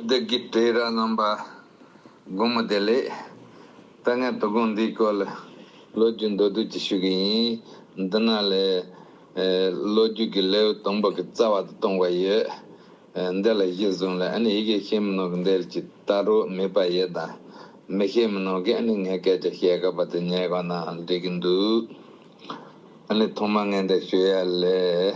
བདག་གིས་དྲི་ར་རྣམ་པ་སྒོམ་མོ་དེ་ལས། ད་ངས་དོ་དགོང་འདིའི་སྐོར་ལ། ལོ་རྒྱུས་མདོར་བསྡུས་ཅིག་ཞུ་གི་ཡིན། འདི་ན་ལས། ལོ་རྒྱུས་ཀྱི་ལེའུ་དང་པོ་གི་རྩ་བ་དུ་གཏོང་བ་ཡོད། འདི་ལ་གཞི་བཟུང་ལ་ཨཱ་ནི་ཡི་གེ་ཤེས་མི་ནོར་གི་འདིར་ཇི་ལྟར་རུ་མི་པ་ཡི་དང་མི་ཤེས་མི་ནོར་གི་ཨཱ་ནི་ངས་སྐད་ཆ་བཤད་ག་པ་དེ་ཉལ་ག་ནའང་འགྲིག་གི་འདུག། ཨཱ་ནི་ཐོག་མ་ངས་འདིར་ཞུ་ཡ་ལས།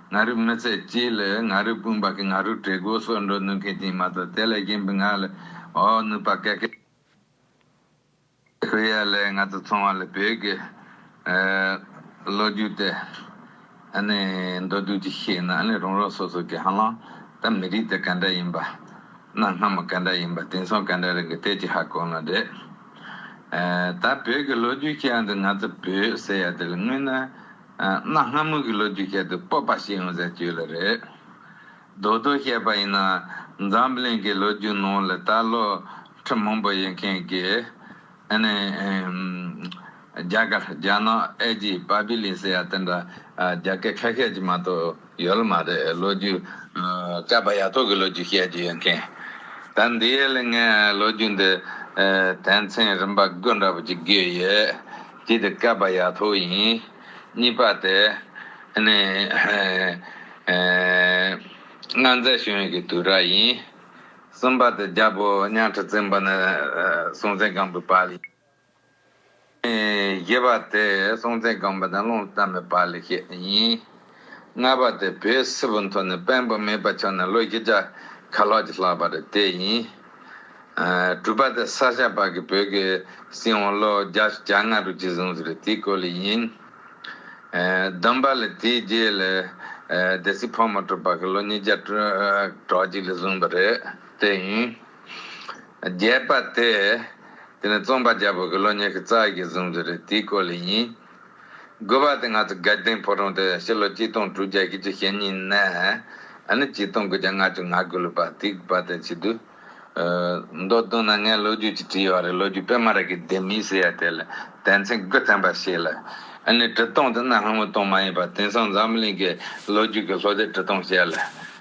ང་རོས་མི་ཚད་ཅིག་ལ་ང་རོས་སྤུན་པ་གི་ང་རོས་བྲེ་གོས་སོགས་འགྲོ་ནུས་མཁན་ཅིག་མ་གཏོགས་དེ་ལ་གཞན་པའི་ང་ལ་འོག་ནུས་པ་ག་གེ་མོ་ཡོད། ང་དང་མཚུངས་བ་ལ་བོད་ཀྱི་ལོ་རྒྱུས་དེ་མདོར་བསྡུས་ཀྱིས་བཤད་ན་རང་རང་སོ་སོ་གི་ཧ་ལམ་ད་མི་རིགས་དེ་ག་འདྲ་ཡིན་པ། གནའ་སྔ་མོ་ག་འདྲ་ཡིན་པ་དེང་སང་ག་འདྲ་རེད་གི་དེ་ཅི་ཧ་གོ་ན་འདྲ། ད་བོད་ཀྱི་ལོ་རྒྱུས་ཤག་འདི་ང་ཚོ་བོད་ཟེར་ཡ་དེ་ལ་དངོས་ན། གནའ་སྔ་མོ་གི་ལོ་རྒྱུས་ཁྱད་དུ་སྤོབས་པ་ཞིག་ཡོང་ཟེར་གྱི་ཡོད་ལ་རེད། རྡོག་རྡོག་བཤད་པ་ཡིན་ན་འཛམ་གླིང་གི་ལོ་རྒྱུས་ནང་ལ་ད་ལོ་ཁྲི་མང་པོ་ཡོད་མཁན་གྱི་ཨ་ནི། རྒྱ་གར་རྒྱ་ནག་ཨེ་ཇིབ་བྷ་བྷི་ལི་སི་ཡ་དེ་འདྲ་རྒྱ་སྐད་ཁ་ཤས་ཀྱིས་མ་གཏོགས། ཡོད་མ་རེད་ལོ་རྒྱུས། སྐྱ་བ་ཡ་ཐོག་གི་ལོ་རྒྱུས་བཤད་རྒྱུ་ཡོད་མཁན། ད་འདི་ཡས་ལས་ངས་ལོ་རྒྱུས་འདི། དན་ཚན་རིམ་པ་དགུ་འདྲ་པོ་ཅིག་བརྒྱུད་ཡོད། གཅིག་དེ་སྐྱ་བ་ཡ་ཐོག་ཡིན། གཉིས་པ་དེ། ནི། སྔ་མཛད་གཞུང་ཡིག་གི་དུས་ར་ཡིན། གསུམ་པ་དེ་རྒྱ་བོད་གཉའ་ཁྲི་བཙན་པོ་ནས་སྲོང་བཙན་སྒམ་པོའི་བར་ཡིན། བརྒྱད་པ་སྟེ་སྲོང་བཙན་སྒམ་པོ་དང་ཀློང་གཏམ་པའི་བར་ལས་བཤད་ཡིན། ལྔ་པ་སྟེ་བོད་སིལ་བུ་མཐོ་ནས་དཔོན་པོ་མེད་པ་ཆགས་ནས་ལོ་བཞི་ཆ་ག་ལྷག་ཅིག་ལྷག་པ་རེད་དེ་ཡིན། དྲུག་པ་སྟེ་ས་ཞབས་བར་གྱི་བོད་ཀྱི་སྲིད་དབང་ལོ་བརྒྱ་ཞེ་བརྒྱ་ལྔ་དྲུག་ཅིག་བཟུང་ཟིག་རེད་དེའི་སྐོར་ལས་ཡིན། བདུན་པ་ལས་དེའི་རྗེས་ལས་སྡེ་སྲིད་ཕག་མོ་གྲུ་པ་གྱི་ལོ་ཉིས་བརྒྱ་དྲུག་ཅིག་ལས་བཟུང་བ་རེད་དེ་ཡིན། བརྒྱད་པ་སྟེ། དེ་ནི་རྩོམ་པ་རྒྱལ་པོ་དགེ་སློང་ཉི་ཤུ་རྩ་གཉིས་ཀྱིས་གཟུང་རྒྱུ་རེད་དེའི་སྐོར་ལས་ཡིན། དགུ་བ་སྟེ་ང་ཚོ་སྒེར་སྡེང་ཕོ་བྲང་དུ་ཕྱི་ལོ་གཅིག་སྟོང་དྲུག་བརྒྱ་ཞེ་བཅུ་ཞེ་གཉིས་ནས་ཨ་ནི་གཅིག་སྟོང་དགུ་བརྒྱ་ལྔ་བཅུ་ང་དགུ་ལོ་པ་དེའི་དགུ་བ་དེ་ཕྱི་དུས། མདོར་བསྡུ་ན་ངས་ལོ་རྒྱུས་ཀྱི་བྲིས་བ་རེད་ལོ་རྒྱུས་དཔེ་མ་རེད་ཀྱི་ལྡེ་མིག་ཟེར་ཡ་དེ་ལ་དད་མཚན་དགུ་ལྡན་པ་ཞིག་ལ་ཨ་ནི་བྲི་སྟངས་དེ་ནི་ཧང་ཝུའི་སྟངས་མ་ཡིན་པར་དེང་སང་འཛམ་གླིང་གི་ལོ་རྒྱུས་ཀྱི་ལྷོ་སྡེ་བྲི་སྟངས་བཤད་ལ།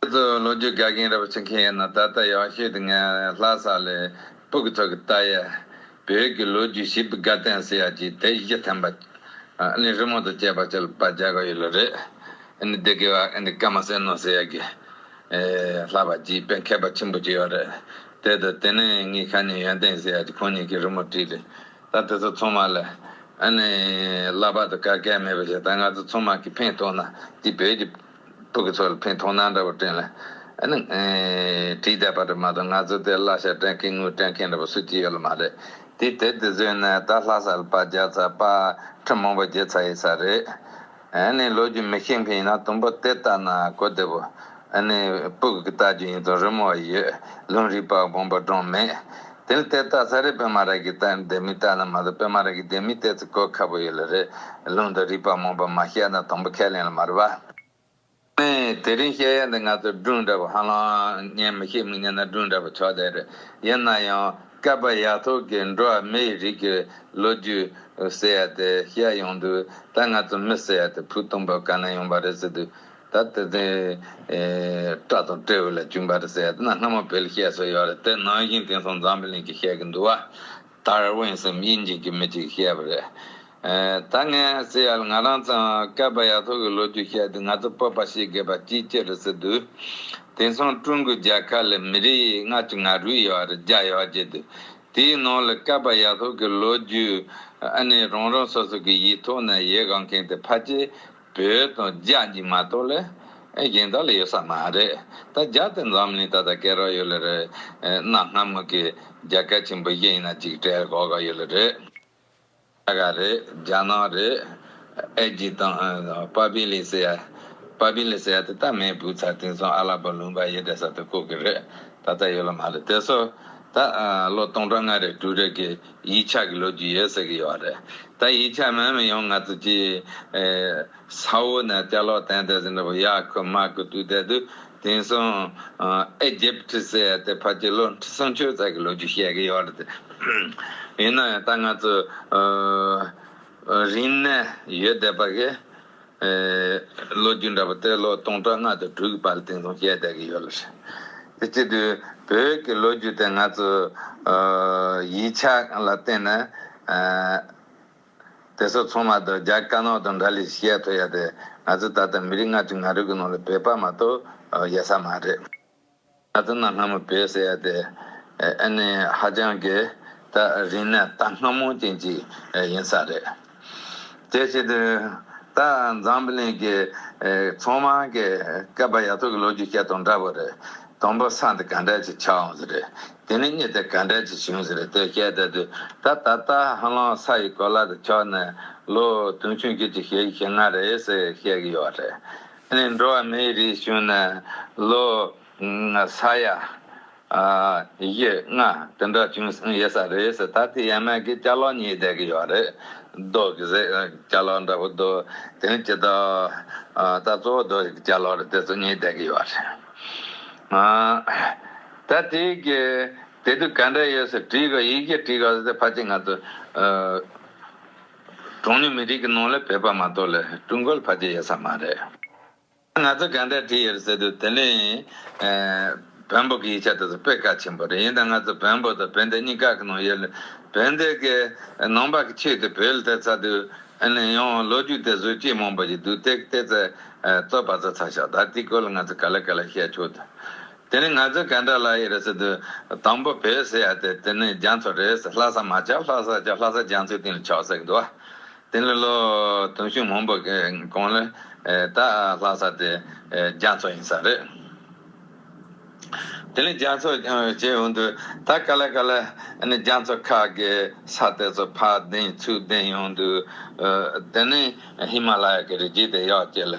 ཁྱེད་ཚོ་ལོ་རྒྱུས་དགའ་མཁན་རབ་བྱེད་མཁན་ཡིན་ན་ད་ལྟ་ཡག་ཤོས་དེ་ངའི་ལྷ་ས་ལས་སྤུག་ཚོ་གི་ཏཱ་ཡས་བོད་ཀྱི་ལོ་རྒྱུས་ཞིབ་དགའ་བསྟན་ཟེར་ཡ་གྱིས་དེ་ཡིག་ཐན་པ་ནི་རི་མོ་དང་བཅས་པ་ཅལ་པ་རྒྱག་གི་ཡོད་ལོ་རེད་ནི་དེ་གི་བ་ཨེ་འདི་ཀ་མ་ཟེར་ནོ་ཟེར་ཡ་གི་ལྷ་པ་གྱིས་དཔེ་མཁས་པ་ཆེན་པོ་གཅིག་ཡོད་རེད་དེ་དང་དེ་ནས་ངའི་ཁ་ཉིན་ཡོན་ཏན་ཟེར་ཡ་གྱིས་ཁོང་གཉིས་ཀྱིས་རི་མོ་བྲིས་རེད་ད་དེ་ཚོ་ཚང་མ་ལ་ཨེ་ནི་ལྷ་པ་དང་ག་གལ་མེད་པ་ཞིག་ད་ང་ཚོ་ཚང་མ་གིས་ཕན་ཐོག་ན་འདི་བོད་ཀྱི། སྤུ་གི་ཚོགས་ལ་ཕན་ཐོགས་སྣང་འདྲ་བོ་སྤྲིངས། བྲིས་བསྡད་པ་དྲི་མ་དང་ངལ་རྩོལ་དེ་གླ་ཞྭ་སྤྲད་མཁན་དངུལ་སྤྲད་མཁན་འདྲ་བོ་སུ་གཅིག་ཡོད་ལ་མ་རེད། དེ་དེར་དེ་བཟོས་ན་ད་ལྷ་ས་ལ་པ་བརྒྱ་ཚ་པ་ཁྲི་མང་པོ་བརྗེ་ཚ་ཡི་ས་རེད། ལོ་རྒྱུས་མི་ཤེས་མཁན་ཡིན་ན་དུམ་བུ་དེ་ལྟ་ན་གོ་བདེ་བོ། སྤུ་གི་ལྟ་རྒྱུ་ཡིན་དང་རི་མོ་བ་ཡོད་ལུང་རིག་པ་དགོངས་པ་སྒྲོན་མེད། དེར་བལྟས་རྟགས་ཚ་རེད་པད་མ་ར་གི་རྟགས་འདེད་མི་རྟགས་ན་མ་གཏོགས་པད་མ་ར་གི་འདེད་མི་བལྟས་ཚེ་གོ་ཁ་པོ་ཡོད་ལ་རེད་ལུང་དང་རིགས་པ་མང་པོ་མ་ཤེས་ན་དང་པོ་ཁས་ལེན་ལ་མ་རེད་པ། ཨེ། དེ་རིང་བཤད་ཡ་འདི་ང་ཚོ་སྒྲུང་འདྲ་པོ་ཧ་ལམ་ཉན་མི་ཤེས་མི་ཉན་ན་སྒྲུང་འདྲ་པོ་ཆོག་བསྡད་རེད་ཡིན་ན་ཡང་བསྐལ་པ་ཡག་ཐོག་གི་འགྲོ་བ་མི་ཡི་རིགས་ཀྱི་ལོ་རྒྱུས་ཟེར་ཡ་དེ་བཤད་ཡོང་དུས་ད་ང་ཚོ་མི་ཟེར་ཡ་དེ་བུ་སྟོང་པ་ག་ནས་ཡོང་པ་རེད་ཟེར་དུས་ད་དེ་ཚེ་སྐྲ་དང་སྤྲེའུ་ལ་བཅུག་འབར་ཟས་སྣ་སྔ་མོ་བལ་གཤེགས་སུ་ཡོད་རེད་དེ་ནང་བཞིན་དེང་སང་འཛམ་བུ་གླིང་གི་ཤེས་ཀྱི་འདུག་བ། དར་དབེན་སེམས་དབྱེ་འབྱེད་ཀྱི་མི་གཅིག་བཤད་པ་རེད། ད་ངས་ཟེར་ཡ་ལ་ང་རང་ཚང་སྐལ་པ་ཡ་ཐོག་གི་ལོ་རྒྱུས་བཤད་དུས་ང་ཚོ་སྤོབས་པ་ཤེས་དགོས་པ་གཅིག་ཅི་རེད་ཟེར་དུས། དེང་སང་ཀྲུང་གོའི་རྒྱལ་ཁབ་ལ་མི་རིགས་ལྔ་བཅུ་ང་རུས་ཡོད་རེད་བརྒྱ་ཡོད་བརྗེད་དུས་དེའི་ནང་ལ་སྐལ་པ་ཡ་ཐོག་གི་ལོ་རྒྱུས་ཨ་ནི་རང་རང་སོ་སོ་གི་ཡིག་ཐོག་ན་ཡི་གང་མཁན་དེ་ཕ་ཅེ་བོད་དང་རྒྱ་གཉིས་མ་གཏོགས་ལས་གཞན་དག་ལ་ཡོད་ས་མ་རེད། ད་རྒྱ་དང་འཛམ་གླིང་ད་ལྟ་སྐད་རག་ཡོད་ལ་རེད། གནའ་སྔ་མོ་གི་རྒྱ་སྐད་ཆེན་པོ་གཞན་ཡིན་ན་ཅིག་བྲལ་གོ་ག་ཡོད་ལ་རེད། ཨ་ག་རེད་རྒྱ་ནག་རེད། ཨེ་རྒྱི་དང་པཱ་པི་ལི་སི་ཡ། པཱ་པི་ལི་སི་ཡ་དེ་ད་མེད་བུ་ཚ་དེང་སང་ཨ་ལ་པོ་ལུང་པ་ཡེ་གྲས་ས་དེ་ཁུག་གི་རེད། ད་ལྟ་ཡོད་ལ་མ་རེད་དེ་སོ། ད་ལོ་སྟོང་ཕྲག་ལྔ་རེ་དྲུག་རེ་གི་ཡིག་ཆ་གི་ལོ་རྒྱུས་ཡོད་ཟེར་གི་ཡོད་རེད་ད་ཡིག་ཆ་མེད་མི་ཡོང་ང་ཚོ་ཀྱི་ས་འོག་ནས་དཔྱད་ལོག་བསྟན་བསྡད་ཟིན་འདྲ་བོ་ཡག་ཁུ་མ་ཁུ་བཏུས་བསྡད་དུས་དེང་སང Egypt ཟེར་ཡ་དེ་ཕ་གྱི་ལོ་ཁྲི་སྲོང་ཆོས་རྩལ་གི་ལོ་རྒྱུས་བཤད་གི་ཡོད་རེད་ཡིན་ན་ཡང་ད་ང་ཚོ་རིང་ནས་ཡོད་བསྡད་པ་གི་ལོ་རྒྱུས་འདྲ་པོ་སྟེ་ལོ་སྟོང་ཕྲག་ལྔ་དང་དྲུག་གི་བར་སྟེང་དུ་བཤད་བསྡད་ཀྱི་ཡོད་ལ། དེ་བཅས་དུས་བོད་ཀྱི་ལོ་རྒྱུས་དེ་ང་ཚོའི་ཡིག་ཆ་ལ་བརྟེན་ནས་དེ་ཚོ་ཚང་མ་རྡོ་རྗེ་དཀར་ནག་དང་འདྲ་ལས་བཤད་ཐུབ་ཡ་དེ་ང་ཚོ་ད་ལྟ་མི་རིགས་ལྔ་ཁྲི་ལྔ་རུས་ཀྱི་ནང་ལ་བོད་པ་མ་གཏོགས་ཡོད་ས་མ་རེད། ད་ལྟ་ན་སྔ་མོ་བས་ཟེར་ཡ་དེ་ཨེ་ནི་ཧ་ཅང་གི་ད་རིང་ནས་ད་སྔ་མོ་ཅན་ཅིག་ཡིན་ས་རེད། དེ་བྱེད་དུས་ད་འཛམ་བུ་གླིང་གི་ཚོང་དམངས་ཀྱི་སྐལ་པ་ཡ་ཐོག་གི་ལོ་རྒྱུས་བཤད་དང་འདྲ་པོ་རེད། དང་པོ་ས་འདི་ག་འདྲ་ཅིག་ཆགས་འོང་ཟེར་རེད། དེ་ནས་གཉིས་དེ་ག་འདྲ་ཅིག་བྱུང་ཟེར་རེད་དེ་བཤད་བསྡད་དུས་ད་ད་ལྟ་ཧ་ལམ་ས་ཡི་གོ་ལ་དེ་ཕྱོགས་ནས་ལོ་དུང་ཕྱུང་བཅུ་ཅིག་ཞེ་བཞི་ཞེ་ལྔ་རེད་ཟེར་བཤད་གི་ཡོད་རེད། ནས་འགྲོ་བ་མིའི་རིགས་བྱུང་ནས་ལོ་ས་ཡ་བཞི་ལྔ་དེ་འདྲ་བྱུང་ཡོད་ས་རེད་ཟེར་ད་ལྟའི་ཡན་མན་གྱི་སྐྱ་ལོག་གཉིས་བསྡད་ཀྱི་ཡོད་རེད་རྡོ་གི་ཟེར་སྐྱ་ལོག་འདྲ་པོ་རྡོ་དེ་ཇི་ལྟ་ད་གཙོ་བོ་རྡོ་གི་སྐྱ་ལོག་རེད་དེ་ཚོ་གཉིས་བསྡད་ཀྱི་ཡོད་རེད། ད་དེ་གི་དེ་དུས་ག་འདྲ་ཡོད་ཟེར་དྲིས་གོ་ཡིག་གིས་དྲིས་གོ་ཟེར་ད་ཕ་ཅིག་ང་ཚོ། གྲངས་ཉུང་མི་རིགས་ཀྱི་ནང་ལ་བོད་པ་མ་གཏོགས་ལ་ཀྲུང་གོ་ལ་ཕ་རྒྱ་ཡོད་ས་མ་རེད། ང་ཚོས་གང་འདྲ་བྲིས་ཡོད་ཟེར་དུས་དེ་ནི། བོན་པོ་གི་ཡིག་ཆ་དེ་ཚོ་དཔེ་གལ་ཆེན་པོ་རེད་ཡིན་ད་ང་ཚོ་བོན་པོ་དང་བོན་སྡེ་གཉིས་ཀ་གི་ནང་ཡོད་ལ་བོན་སྡེ་གི་ནང་པ་གི་ཆོས་དེ་བོད་ལ་བལྟས་ཚར་དུས་ཡང་ལོ་རྒྱུས་དེ་བཟོས་ཅི་མང་པོ་ཞིག་འདུག་དེ་གཏད་ཚད་རྩོད་པ་བཟོ་ཚར་ཤག་ད་དེའི་སྐོར་ལ་ང་ཚོས་ག་ལ་ག་ལ་བཤད་ཆོག་དུས། དེ་ནི་ང་ཚོའི་གན་དྲ་ལ་ཡི་རེ་ས་དུ་དང་པོ་བེད་ཟེར་ཡ་དེ་དེ་ནི་རྒྱ་མཚོ་རེད་ལྷ་ས་མ་བྱ་ལྷ་ས་བྱ་ལྷ་ས་རྒྱ་མཚོའི་སྟེང་ལ་ཆགས་ཟེར་གི་འདུག་དེ་ལས་ལོ་དུང་ཕྱུག་མང་པོ་གང་ལས་ད་ལྷ་ས་དེ་རྒྱ་མཚོ་ཡིན་ས་རེད་དེ་ལས་རྒྱ་མཚོ་བྱེད་འོང་དུས་ད་ག་ལེ་ག་ལེ་ནི་རྒྱ་མཚོ་ཁ་གི་ས་དེ་ཚོ་ཕག་གདན་ཚུགས་གདན་ཡོང་དུས་དེ་ནི་ཧི་མ་ལ་ཡ་གི་རི་རྒྱུད་དེ་ཡག་ཅེས་ལ།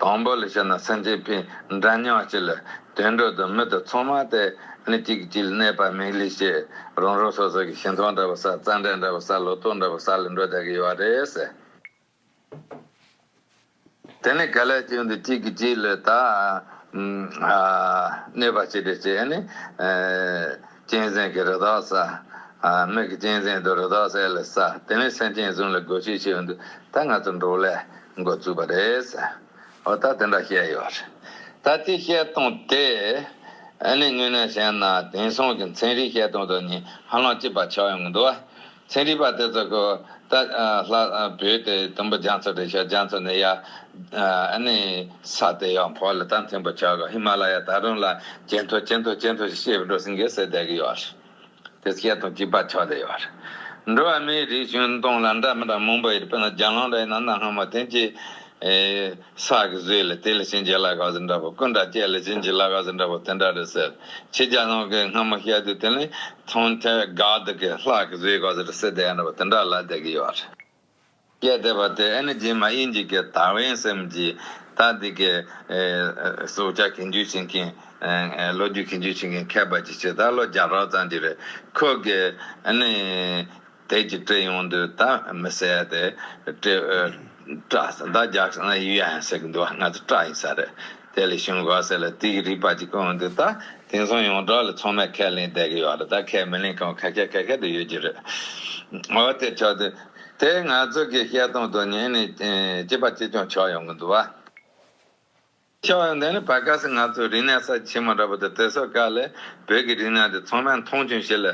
དང་པོ་ལ་བཤད་ན་སེམས་ཅན་ཕན་འདྲ་མྱོང་བྱེད་ལ་དུད་འགྲོ་དང་མི་དང་ཚོང་མ་དེ་ནི་གཅིག་གི་གཅིག་ལ་གནས་པ་མིག་ལས་ཤེས། རང་རང་སོ་སོ་གི་ཞིང་ཐང་འདྲ་བ་ས་རྩ་འགྲན་འདྲ་བ་ས་ལོ་ཏོག་འདྲ་བ་ས་ལ་འགྲོ་བདག་གི་ཡོད་རེད། དེ་ནི་ག་ལས་བྱུང་སྟེ་གཅིག་གིས་གཅིག་ལ་དག། གནོད་པ་བྱེད་པའི་ཕྱིར་ནི། གཅན་གཟན་གྱི་རི་དྭགས་ཟ། མིག་གིས་གཅན་གཟན་དང་རི་དྭགས་ཟས་ལ་ཟ། དེ་ནས་སེམས་ཅན་གསུམ་ལ་དགོས་ཤིག་ཞུས་པ་འདུག་ད་ང་ཚོ་འགྲོ་ལེ། འགོ་བཙུགས་པ་རེད། འོ་ད་དེ་འདྲ་བཤད་ཡོད་རེད། ད་དེ་བཤད་སྟངས་དེ། ནི་དངོས་གནས་བཤད་ན་དེང་སང་གི་མཚན་རིག་བཤད་སྟངས་དང་ནི་ཧ་ལམ་གཅིག་པ་ཆགས་ཡོང་གི་འདུག། ཚན་རིག་པ་དེ་ཚོ་གོ། ད་ལྷ་བོད་དེ་དུམ་བུ་རྒྱ་མཚོ་དེ་ཤར་རྒྱ་མཚོ་ནས་ཡར། ཨ་ནི་ས་དེ་ཡང་བོད་ལ་ད་མཐོན་པོ་ཆགས་གོ་ཧི་མ་ལ་ཡ་ད་རུང་ལ་ཇེ་མཐོ་ཇེ་མཐོ་ཇེ་མཐོ་ཞིག་བཤད་པའི་འགྲོ་སེང་གེ་སེ་བསྡད་གི་ཡོད་རེད། དེ་སྐད་དང་གཅིག་པ་ཆགས་བསྡད་ཡོད་རེད། འགྲོ་བ་མིའི་རིགས་གཞུང་སྟོང་ལ་འདྲ་མི་འདྲ་མང་པོ་ཡོད་རེད་དཔེར་ན་རྒྱ་གླང་རའི་ནང་ན་སྔ་མོ་དེང་གི། ས་གི་གཟུགས་ལ་དེ་ལ་བྱིན་གྱིས་བརླ་ག་ཟིན་འདྲ་བོ་ཀུན་དགའ་སྐྱེས་ལ་བྱིན་གྱིས་བརླ་ག་ཟིན་འདྲ་བོ་དེ་འདྲ་རེད་ཟེར་ཁྱི་རྒྱ་ནག་གི་སྔ་མོ་ཤད་དུས་དེ་ལས་མཐོང་ཐད་དགའ་སྡུག་གི་ལྷ་གི་གཟུགས་ག་ཟེར་སེ་བསྡད་འདྲ་བོ་དེ་འདྲ་ལ་བསྡད་ཀྱི་ཡོད་རེད། སྐད་བསྡད་པ་དེ་ཨེ་ན་རྗེས་མ་དབྱིན་ཇི་གི་དར་བའི་སེམས་ཀྱིས་ད་འདི་གི་སྲོག་ཆགས་གི་འཇུ་བྱེད་མཁན་ལོ་རྒྱུས་ཀྱི་འཇུ་བྱེད་མཁན་ཁྱད་པར་གྱི་ཆེད་ད་ལོ་བརྒྱ་ཕྲག་ཙམ་གྱི་རེད་ཁོ་གི་ཨེ་ནི། དལ་གྱིས་བཀྲེས་ཡོང་དུས་ད་མི་བསད་དེ། བཀྲེས། བཀྲ། ཟླ་རྒྱག་ཡུལ་ཡང་ཟེར་གྱི་འདུག་ང་ཚོ་བཀྲ་ཡིན་ས་རེད། དེ་ལས་གཞུང་དགོས་ཟེར་ལ་དེའི་རིགས་པ་ཅིག་ཡོང་དུས་ད་དེང་སང་ཡོངས་གྲགས་ལ་ཚང་མས་ཁས་ལེན་བསྡད་ཀྱི་ཡོད་ལ་ད་ཁས་མི་ལེན་གང་ཁ་ཁས་ཁ་ཁས་དུ་ཡོད་ཀྱི་རེད། འོ་དེ་ཆོག་དུས། དེ་ང་ཚོ་གིས་བཤད་སྟངས་དང་ཉན་ནས་སྐྱིད་པ་ཅིས་ཀྱང་ཆགས་ཡོང་གི་འདུག་བ། ཆེ་བ་ཡང་དེ་ནི་བར་སྐབས་སུ་ང་ཚོས་རིག་གནས་ས་ཆེན་མོ་འདྲ་པོ་དེ་དེ་སོ་སྐད་ལས་བོད་ཀྱི་རིག་གནས་དེ་ཚང་མས་མཐོང་ཆུང་བྱེད་ལེ།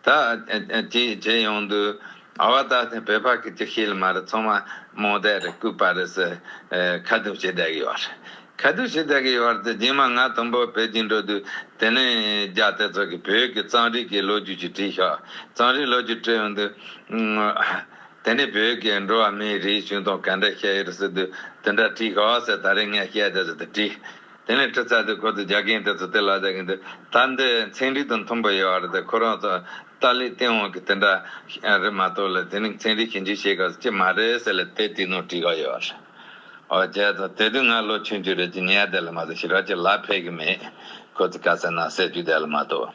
ད། ཅིག་བྱེད་ཡོང་དུས། ཨ་བ་ད་ཐེངས་བོད་ཕ་གི་ཅིག་ཤེས་ལ་མ་རེད་ཚང་མ་རྨོངས་དད་རེད་ལྐུགས་པ་རེད་ཟེར་ཁ་བརྡུང་བྱེད་བསྡད་ཀྱི་ཡོད་རེད། ཁ་བརྡུང་བྱེད་བསྡད་ཀྱི་ཡོད་རེད་དེ་རྗེས་མ་ང་དང་པོ་པེ་ཅིང་འགྲོ་དུས་དེ་ནས་རྒྱ་དེ་ཚོ་གིས་བོད་ཀྱི་གཙང་རིས་ཀྱི་ལོ་རྒྱུས་ཅིག་བྲིས་ཤོག་གཙང་རིས་ལོ་རྒྱུས་བྲིས་ཡོང་དུས། དེ་ནི་བོད་ཀྱི་འགྲོ་བ་མིའི་རིགས་ཆུང་དང་ག་འདྲ་བཤད་ཡོད་ཟེར་དུས་དེ་འདྲ་བྲིས་དཀའ་བ་ཟེར་ད་རེས་ངས་བཤད་བསྡད་ཟེར་དུས་བྲིས། དེ་ནས་ཁྲི་ཚར་དུས་ཁོ་ཚོས་རྒྱ་རྒན་དེ་ཚོ་དེ་ལ་ཟེར་གྱི་འདུག་ད་འདི་ཚན་རིག་དང་མཐུན་པོ་ཡོད་བ་རེད་དེ་ཁོ་རང་ཚོ་ཏཱ་ལའི་སྟེང་འོང་གི་དེ་འདྲ་རེད་མ་གཏོགས་ལ་དེ་ནི་ཚན་རིག་གཞན་རྒྱུ་བཤད་དཀའ་ཅི་མ་རེད་ཟེར་ལ་དེ་དུས་ནོར་བྲིས་དཀའ་ཡོད་བ་རེད། འོ་བྱས་ཚོ་དེ་དུས་ང་ལོ་ཆུང་ཆུང་རེད་ཅེས་ཉལ་བསྡད་ལ་མ་གཏོགས་ཞི་རགས་ཀྱི་ལག་ཕེབས་ཀྱི་མེད། ཁོ་ཚོས་དཀའ་ས་ན་བསད་རྒྱུ་བསྡད་ལ་མ་གཏོགས།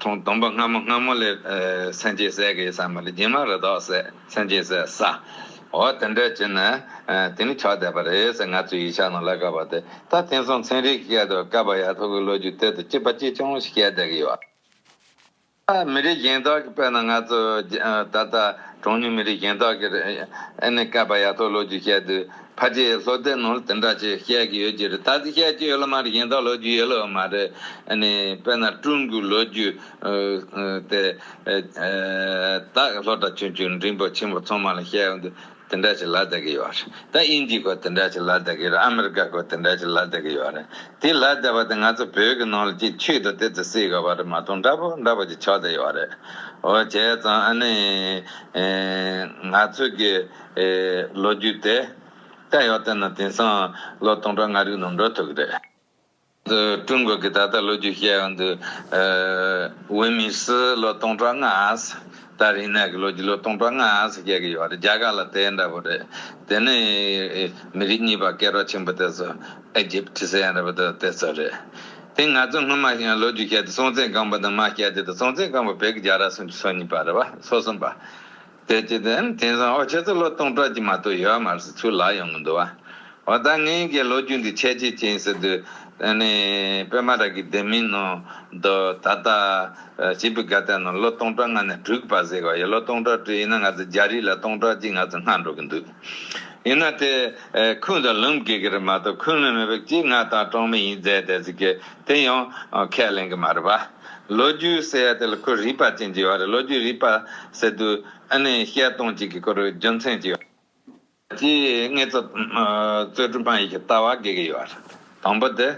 ཁྲོང་སྡོམ་པ་སྔ་མོ་སྔ་མོ་ལས། སེམས་ཅན་ཟས་ཀྱི་ས་མ་ལུས་སྦྱིན་མ་རེ་དོགས་ཟད་སེམས་ཅན་ཟས་ས། འོ་དེ་འདྲ་བྱེད་ན་དེ་ནི་ཆོག་བསྡད་པ་རེད་ཟེར་ང་ཚོས་ཡིག་ཆ་ནང་བཀླགས་དཀའ་བ་དེ་ད་དེང་སང་ཚན་རིག་གི་སྐད་དུ་བཀའ་བབས་ཡག་ཐུག་གི་ལོ་རྒྱུས་གཏེར་དུ་སྐྱིད་པ་སྐྱིད་ཆུང་ཞིག་བཤད་བསྡད་ཀྱི་ཡོད། མི་རིགས་གཞན་དག་གི་དཔེར་ན་ང་ཚོ་ད་ལྟ་གྲངས་ཉུང་མི་རིགས་གཞན་དག་གིས་ཨེ་ནས་བཀའ་བབས་ཡག་ཐུག་ལོ་རྒྱུས་བཤད་དུས་ཕ་སྐྱེས་ལྷོ་བསྟན་ནོར་དེ་འདྲ་ཅེས་བཤད་ཀྱི་ཡོད་ཀྱི་རེད་ད་ཚིག་བཤད་ཀྱི་ཡོད་ལ་མ་རེད་ཡིན་ད་ལོ་རྒྱུས་ཡོད་ལོ་མ་རེད་ཨ་ནི་དཔེར་ན་ཀྲུང་གོའི་ལོ་རྒྱུས་དེ་དག་ལྷོ་བྲག་ཆུ་ཆུ་འབྲིང་པོ་ཆེན་པོ་ཚང་མ་ལ་བཤད་ཡོང་དུས་དེ་འདྲ་ཞིག་ལ་བལྟ་གི་ཡོད་རེད་ད་དབྱིན་ཇིའི་སྐོར་དེ་འདྲ་ཞིག་ལ་བལྟ་གི་རེད་ཨ་མེ་རི་ཀ་སྐོར་དེ་འདྲ་ཞིག་ལ་བལྟ་གི་ཡོད་རེད་དེ་ལ་བལྟས་པ་དེ་ང་ཚོ་བོད་ཀྱི་ནང་ལ་གཅིག་ཆུད་དུ་དེ་ཚོ་སྲིད་ག་བ་རེད་མ་མཐོང་འདྲ་པོ་འདྲ་པོ་ཅིག་ཆགས་བསྡད་ཡོད་རེད་འོ་བྱས་ཙང་ཨ་ནི་ང་ཚོ་གི། ལོ་རྒྱུས་དེ་ལྟ་ཡོད་བལྟས་ན་དེང་སང་ལོ་སྟོང་ཕྲག་ལྔ་རིག་ནང་འགྲོ་ཐུབ་གི་རེད། ཀྲུང་གོ་གི་ད་ལྟ་ལོ་རྒྱུས་བཤད་ཡོང་དུས་ཝུན་མིན་སི་ལོ་སྟོང་ཕྲག་ལྔ་ད་རིང་ནས་གི་ལོ་རྒྱུས་ལོ་སྟོང་ཕྲག་ལྔ་བཤད་གི་ཡོད་རེད་རྒྱ་གར་ལ་དེ་འདྲ་པོ་རེད་དེ་ནི་མི་རིགས་གཉིས་པ་སྐད་རོགས་ཆེན་པོ་དེ་ཚོ་ཨེ་ཇེབ་ཏི་སི་ཡང་རེད་པོ་དེ་ཚོ་རེད་དེ་ང་ཚོ་སྔོན་མ་ཞིག་ཡང་ལོ་རྒྱུས་བཤད་དུས་སྲོང་བཙན་སྒམ་པོ་དང་མ་སྐྱ་དེ་དང་སྲོང་བཙན་སྒམ་པོ་བོད་ཀྱི་རྒྱལ་ར་སུམ་ཅུ་སོ་གཉིས་པ་རེད་པ་སོ་གསུམ་པ། དེ་ཅི་དེ། དེང་སང་ཨོ་ཁྱེད་ཚོ་ལོ་སྟོང་ཕྲག་གྱི་མ་གཏོགས་ཡོད་མ་རེད་ཚུར་ལག་ཡོང་གི་འདུག་བ། འོ་ད་ངའི་གི་ལོ་རྒྱུས་འདི་ཁྱད་ཅི་ཅིན་ཟེར་དུས། ནི། པད་མ་ར་གི་སྡེ་མིའི་ནང་དུ་ད་ལྟ། བྱིས་པའི་དགའ་དད་ནང་ལོ་སྟོང་ཕྲག་ལྔ་ནས་དྲུག་བར་ཟེར་གི་བ་ཡིན་ལོ་སྟོང་ཕྲག་དྲུག་ཡིན་ན་ང་ཚོ་རྒྱ་རིགས་ལ་སྟོང་ཕྲག་གཅིག་ང་ཚོ་སྔ་འགྲོ་གི་འདུག། ཡིན་ན་དེ། ཁུངས་དང་ལུང་དགོས་གི་རེད་མ་གཏོགས་ཁུངས་ལུང་མེད་པའི་གཅིག་ང་དང་གྲོང་མི་ཡིན་རྫས་དེ་ཟེར་གི་དེ་ཡང་ཁས་ལེན་གི་མ་རེད་བ། ལོ་རྒྱུས་ཟེར་བ་དེ་ལ་ཁོས་རིག་པ་ཅན་གྱི་བར་ལོ་རྒྱུས་རིག་པ་ཟེར་དུས་ཨ་ནེ་བཤད་སྟངས་གཅིག་གི་སྐོར་རྒྱུ་མཚན་གཅིག་ཡོད། གཅིག་ངེད་ཚོ་གཙོས་ཀྲུང་ཧྥ་ཡིག་གི་ལྟ་བ་དགོས་ཀྱི་ཡོད་རེད། དང་པོ་དེ།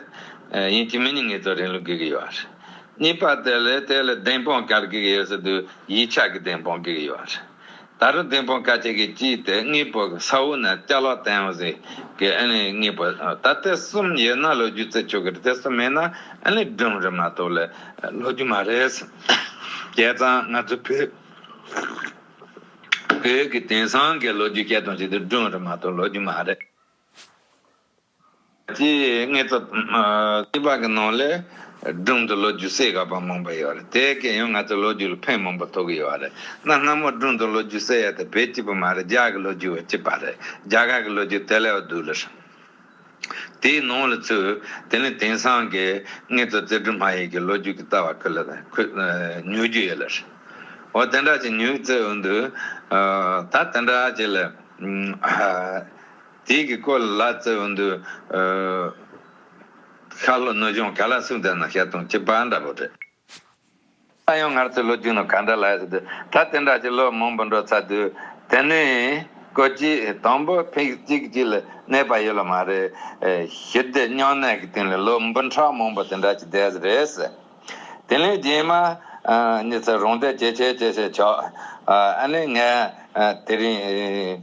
ཡིན་གཅིག་མིན་གཉིས་ངེད་ཚོ་རིང་ལུགས་དགོས་ཀྱི་ཡོད་རེད། གཉིས་པ་དེ་ལས་དེ་ལས་བདེན་དཔང་ག་རེ་དགོས་ཀྱི་ཡོད་ཟེར་དུས་ཡིག་ཆ་གི་བདེན་དཔང་དགོས་ཀྱི་ཡོད་རེད། ད་རུང་དེང་ཕོ་ཁ་ཅིག་གིས་སྐྱིད་དེ་དངོས་པོ་ས་འོག་ན་བཅའ་ལག་བསྟན་འོག་ཟེར་གི་ཨེ་ལས་ངེས་པ་ད་ལྟ་གསུམ་ཡོད་ན་ལོ་རྒྱུས་རྩད་ཆོད་གི་རེད་དེ་གསུམ་མེད་ན་ཨེ་ལས་སྒྲུང་རེད་མ་གཏོགས་ལས་ལོ་རྒྱུས་མ་རེད་བསྐལ་བཟང་ང་ཚོ་བོད་བོད་ཀྱི་དེང་སང་གི་ལོ་རྒྱུས་བཤད་སྟངས་ཞིག་དེ་སྒྲུང་རེད་མ་གཏོགས་ལོ་རྒྱུས་མ་རེད། དེའི་སྔས་ཚབ་སྐྱི་པགས་ཀྱི་ནང་ལས་སྒྲུང་དུ་ལོ་རྒྱུས་གསལ་ཁ་པ་མང་པོ་ཡོད་རེད་དེའི་གན་ཡོད་ང་ཚོས་ལོ་རྒྱུས་ལ་ཕན་མང་པོ་ཐོག་གི་ཡོད་རེད་གནའ་སྔ་མོ་སྒྲུང་དུ་ལོ་རྒྱུས་གསལ་ཡ་དེ་བོད་སྐྱི་པ་མ་རེད་རྒྱ་གི་ལོ་རྒྱུས་བོད་སྐྱི་པ་རེད་རྒྱ་གར་གི་ལོ་རྒྱུས་དེ་ལས་བསྡུས་ལ་ཧྲིམ་དེའི་ནང་ལ་ཚུད་དེ་ནས་དེང་སང་གི་སྔས་ཚོ་རྩེ་སྒྲུང་མ་ཡིག་གི་ལོ་རྒྱུས་ཀྱི་རྩ་བ་ཁུ་ལ་ཉོ་རྒྱུ་ཡོད་ལ་ཧྲིམ་འོ་དེ་འདྲ་ཅིག་ཉོས་ཚེ་འོན་དུ་ད་དེ་འདྲ་ཅིག་ལ་དེའི་གི་ཀོ་ལ་ཙི་བུན་དུ། ཤ་ལོ་གནོད་སྦྱོང་ག་ལ་སུག་འདི་ན་ཤ་དུང་གི་བ་འདྲ་པོ་རེད། ས་ཡོང་ངར་ཚོའི་ལོ་རྒྱུས་ནོ་ག་འདྲ་ལ་ཨེ་ཟེར་ད་དེ་འདྲ་ཅིག་ལོ་མང་པོ་འགྲོ་ཚ་དུས་དེ་ནས་ཀོ་ཅི་དང་པོ་ཕིག་གཅིག་ཅིག་ལ་གནས་པ་ཡོད་ལ་མ་རེད། ཞི་བདེ་བསྙོན་གནས་གི་སྟེང་ལ་ལོ་འབུ་ཕྲག་མང་པོ་དེ་འདྲ་ཅིག་བསྡད་ཟེར་རེད། དེ་ལས་རྗེས་མ་ཉི་ཚེ་རོང་དེ་ཇེ་ཆེ་ཇེ་ཆེ་ཆགས། ཨ་ནི་ངས་དེ་རིང།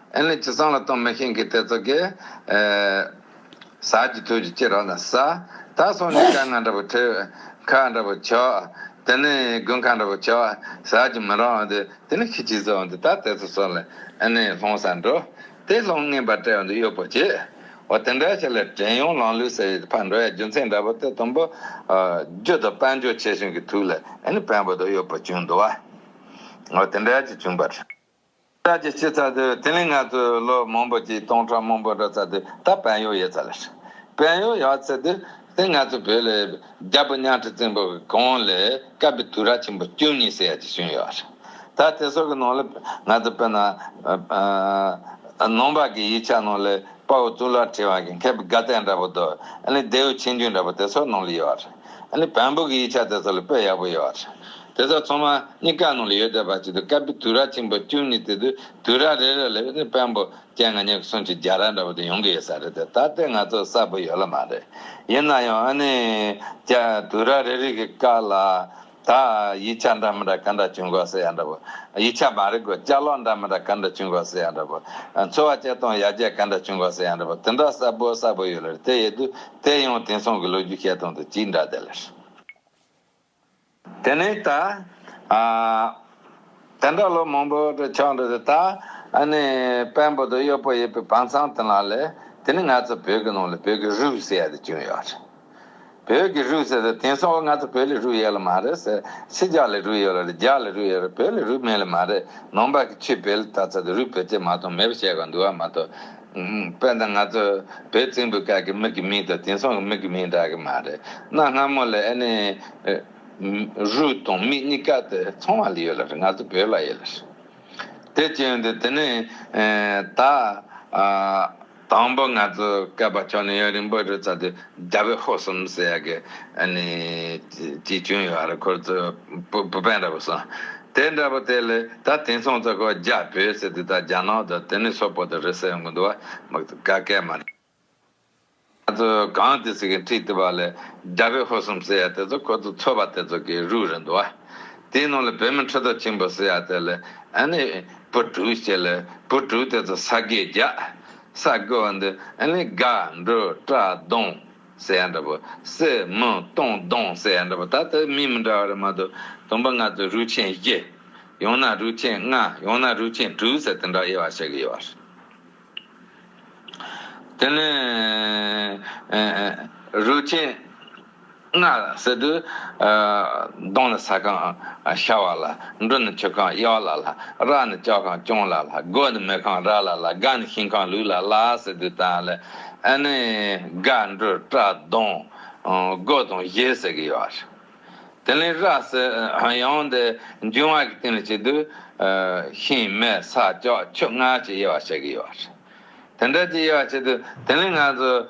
ཨེ་ལས་ཇི་སང་ལ་ཏོང་མེ་ཤིང་གི་ཏེ་ཙོ་ཀེ། ཟ་ཇི་ཐོས་ཇི་ཅི་རོ་ན་ཟ། ད་སོང་ནས་སྐ་ང་འདྲ་བོ་ཐོས། ཁ་འདྲ་བོ་ཆོག། དེ་ནས་དགུན་ཁ་འདྲ་བོ་ཆོག་ཟ་ཇི་མི་རོ་འདི་དེ་ནས་ཁི་ཇི་ཟོ་འདི་ད་ཏེ་ཙོ་སོ་ལེ་ཨེ་ནས་ལྷོང་སར་འགྲོ། དེ་ལྷོང་ངན་པ་དྲེ་འདི་གཡོ་པོ་བྱེད། འོ་དེ་འདྲ་བྱས་ལ་དྲེན་ཡོང་ལང་ལུས་སེ་ཡི་ཕར་འགྲོ་ཡ་རྒྱུ་མཚན་འདྲ་བོ་ཏེ་དུམ་བུ། རྒྱུ་དང་དཔལ་འབྱོར་ཆེ་ཆུང་གི་དུས་ལ་ཨེ་ནས་བན་བོ་དོ་གཡོ་པོ་བྱུང་འདུག་བ། འོ་དེ་འདྲ་ཇི་བྱུང་པར། ལྟ་ཅི་ཕྱིར་ཚ་དུས་དེ་ནི་ང་ཚོས་ལོ་མང་པོ་གཅིག་སྟོང་ཕྲག་མང་པོ་འགྲོ་ཚ་དུས་ད་བན་ཡོག་ཡོད་ཚ་ལ་ཧྲི། བན་ཡོག་ཡག་ཚ་དུས་དེ་ང་ཚོ་བོད་ལ་རྒྱ་བོད་གཉའ་ཁྲི་བཙན་པོ་གི་གོང་ལས་བཀབ་པའི་དུས་ར་ཆེན་པོ་བཅུ་གཉིས་ཟེར་ཡག་ཅིག་བྱུང་ཡོད་ཧྲི། ད་དེ་སོག་གི་ནང་ལ་ང་ཚོ་བོད་ནང་ནང་པ་གི་ཡིག་ཆ་ནང་ལ་དཔའ་བོ་གཙུག་ལག་ཁྲི་བ་གི་མཁས་པའི་དགའ་ཚལ་འདྲ་པོ་དོ་ཨ་ནི་རྡེའུ་ཆེན་རྒྱུན་འདྲ་པོ་དེ་སོག་ནང་ལ་ཡོད་ཧྲི། ཨཱ། བམ་པོ་གི་ཡིག་ཆ་དེ་ཚོ་ལ་དཔེ་ཡག་པོ་ཡོད་རེད། དེ་ཚོ་ཚང་མ་གཉིས་ཀ་ནང་ལ་ཡོད་བསྡད་པ་ཅིག་འདུག་སྐབས་དུས་ར་ཆེན་པོ་བཅུ་གཉིས་དེ་དུས་དུས་ར་རེ་རེ་ལ་ཨཱ་ནི་བམ་པོ་ཀྱེ་ང་གཉིས་ཀྱི་གསུང་ཆོས་རྒྱ་ར་འདྲ་བོ་དེ་ཡོང་གི་ཡོད་ས་རེད་དེ་ད་ལྟའི་ང་ཚོ་གསལ་པོ་ཡོད་ལ་མ་རེད། ཡིན་ན་ཡང་ཨཱ་ནི་ཀྱེ་དུས་ར་རེ་རེ་གི་བཀའ་ལ། ད་ཡིག་ཆ་འདྲ་མི་འདྲ་ག་འདྲ་བྱུང་དགོས་ཟེར་ཡ་འདྲ་བོ། ཡིག་ཆ་མ་རིག་གོ་ལྕག་ལོག་འདྲ་མི་འདྲ་ག་འདྲ་བྱུང་དགོས་ཟེར་ཡ་འདྲ་བོ། འཚོ་བ་སྐྱེལ་སྟངས་ཡར་རྒྱས་ག་འདྲ་བྱུང་དགོས་ཟེར་ཡ་འདྲ་བོ་དེ་འདྲ་གསལ་པོ་གསལ་པོ་ཡོད་ལེར་དེ་ཡོད་དུས་དེ་ཡང་དེང་སང་གི་ལོ་རྒྱུས་བཤད་སྟངས་དང་གཅིག་འདྲ་དེ་ལེར། དེ་ནས་ད། དེ་འདྲ་ལོ་མང་པོ་འདྲ་ཆགས་འདྲ་དེ་ད་ནི་དཔོན་པོ་དང་གཡོག་པོ་ཡོད་པའི་བང་ཚང་དེ་ལ་ལས་དེ་ནི་ང་ཚོ་བོད་ཀྱི་ནང་ལ་བོད་ཀྱི་རུས་ཟེར་ཡ་དེ་བྱུང་ཡོད་རེད། བོད་ཀྱི་རུས་ཟེར་ཟེར་དེང་སང་བོ་ང་ཚོ་བོད་ལས་རུས་ཡོད་ལ་མ་རེད་ཟེར་ཕྱི་རྒྱ་ལས་རུས་ཡོད་ལ་རེད་རྒྱ་ལས་རུས་ཡོད་རེད་བོད་ལས་རུས་མེད་ལ་མ་རེད་ནང་པ་གི་ཆུས་བལ་ལ་བཏགས་ཚར་དུས་རུས་བོད་ཅེས་མ་གཏོགས་མེད་པ་བཤད་དགོས་འདུག་ཨ་མ་ཏོ། དཔེར་ན་ང་ཚོ་བོད་བཙན་པོའི་སྐབས་ཀྱི་མིག་གི་མིང་དང་དེང་སང་གི་མིག་གི་མིང་འདྲ་གི་མ་རེད་གནའ་སྔ་མོ་ལས་ཨ་ནི། རུས་དང་མིག་གཉིས་ཀ་དེ་ཚང་བ་ལ་ཡོད་ལ་རེད་ང་ཚོ་བོད་ལ་ཡོད་ལ་རེད། དེ་བཅོས་འདི་དེ་ནས་ད། དང་པོ་ང་ཚོས་བསྐལ་པ་ཁྱོན་ཡོད་རིང་པོ་རི་རྩ་དེ་རྒྱ་བོད་ཧོར་གསུམ་ཟེར་ཡ་གི་གཅིག་བྱོན་ཡོད་རེད་ཁོ་ཚོས་བུ་དཔོན་འདྲ་པོ་གསུངས་དེ་འདྲ་པོ་དེ་ལས་ད་དེང་སང་ཚོ་ཁོ་རྒྱ་བོད་ཟེར་དེ་དག་རྒྱ་ནག་དང་དེ་ནས་སོག་པོ་དང་རི་ཟེར་ཡོང་གི་འདུག་བ་དཀའ་སྐད་མ་རེད། ང་ཚོས་གང་དེ་ཟེར་གི་འཁྲིད་དེ་བ་ལས་རྒྱ་བོད་ཧོར་གསུམ་ཟེར་ཡ་དེ་ཚོ་ཁོ་ཚོ་ཚོ་བ་དེ་ཚོ་གི་རུས་རེད་འདུག་བ་དེའི་ནང་ལས་བོད་མི་ཁྲི་ཐོག་ཆེན་པོ་ཟེར་ཡ་དེ་ལས་བུ་དྲུག་བྱས་ལ་བུ་དྲུག་དེ་ཚོ་ས་གས་རྒྱ། ས་གོས་བ་འདི་ནི་དགའ་འབྲུ་བཀྲ་གདོང་ཟེ་ཡ་འདྲ་བུ་སེ་མི་སྟོང་གདོང་ཟེ་ཡ་འདྲ་བུ་ད་ལྟ་མི་མི་འདྲ་བ་རེ་མ་གཏོགས་དུམ་པ་ལྔ་ཚོས་རུས་ཆེན་བཞི། ཡང་ན་རུས་ཆེན་ལྔ་ཡང་ན་རུས་ཆེན་དྲུག་ཟེ་དེ་འདྲ་དབྱེ་བ་བྱེད་ཀྱི་ཡོད་པ་རེད། དེ་ནས་རུས་ཆེན་ལྔ་བསྲེགས་དུས། གདོང་ནི་ས་གང་ཤར་བ་ལ། འབྲུ་ནི་ཆུ་གང་གཡོགས་ལ་ལ། ར་ནི་ལྕགས་གང་གྱོན་ལ་ལ། རྒོད་ནི་མེ་གང་རལ་ལ་ལ། སྒ་ནི་ཤིང་གང་ལུས་ལ་ལ། ཟེར་དུས་དང་ལས་ཨེ་ནི། སྒ་འབྲུ་སྐྲ་གདོང་རྒོད་དང་བཞེས་ཟེར་གྱི་ཡོད། དེ་ལས་ར་སའི་ཡང་དེ་འབྱུང་བ་གི་སྟེང་ལ་བྱེད་དུས། ཤིང་མེ་ས་ལྕགས་ཆུ་ལྔ་ཀྱི་དབྱེ་བ་བྱེད་ཀྱི་ཡོད། དེ་འདྲ་ཀྱི་དབྱེ་བ་བྱེད་དུས་དེ་ལས་ང་ཚོས།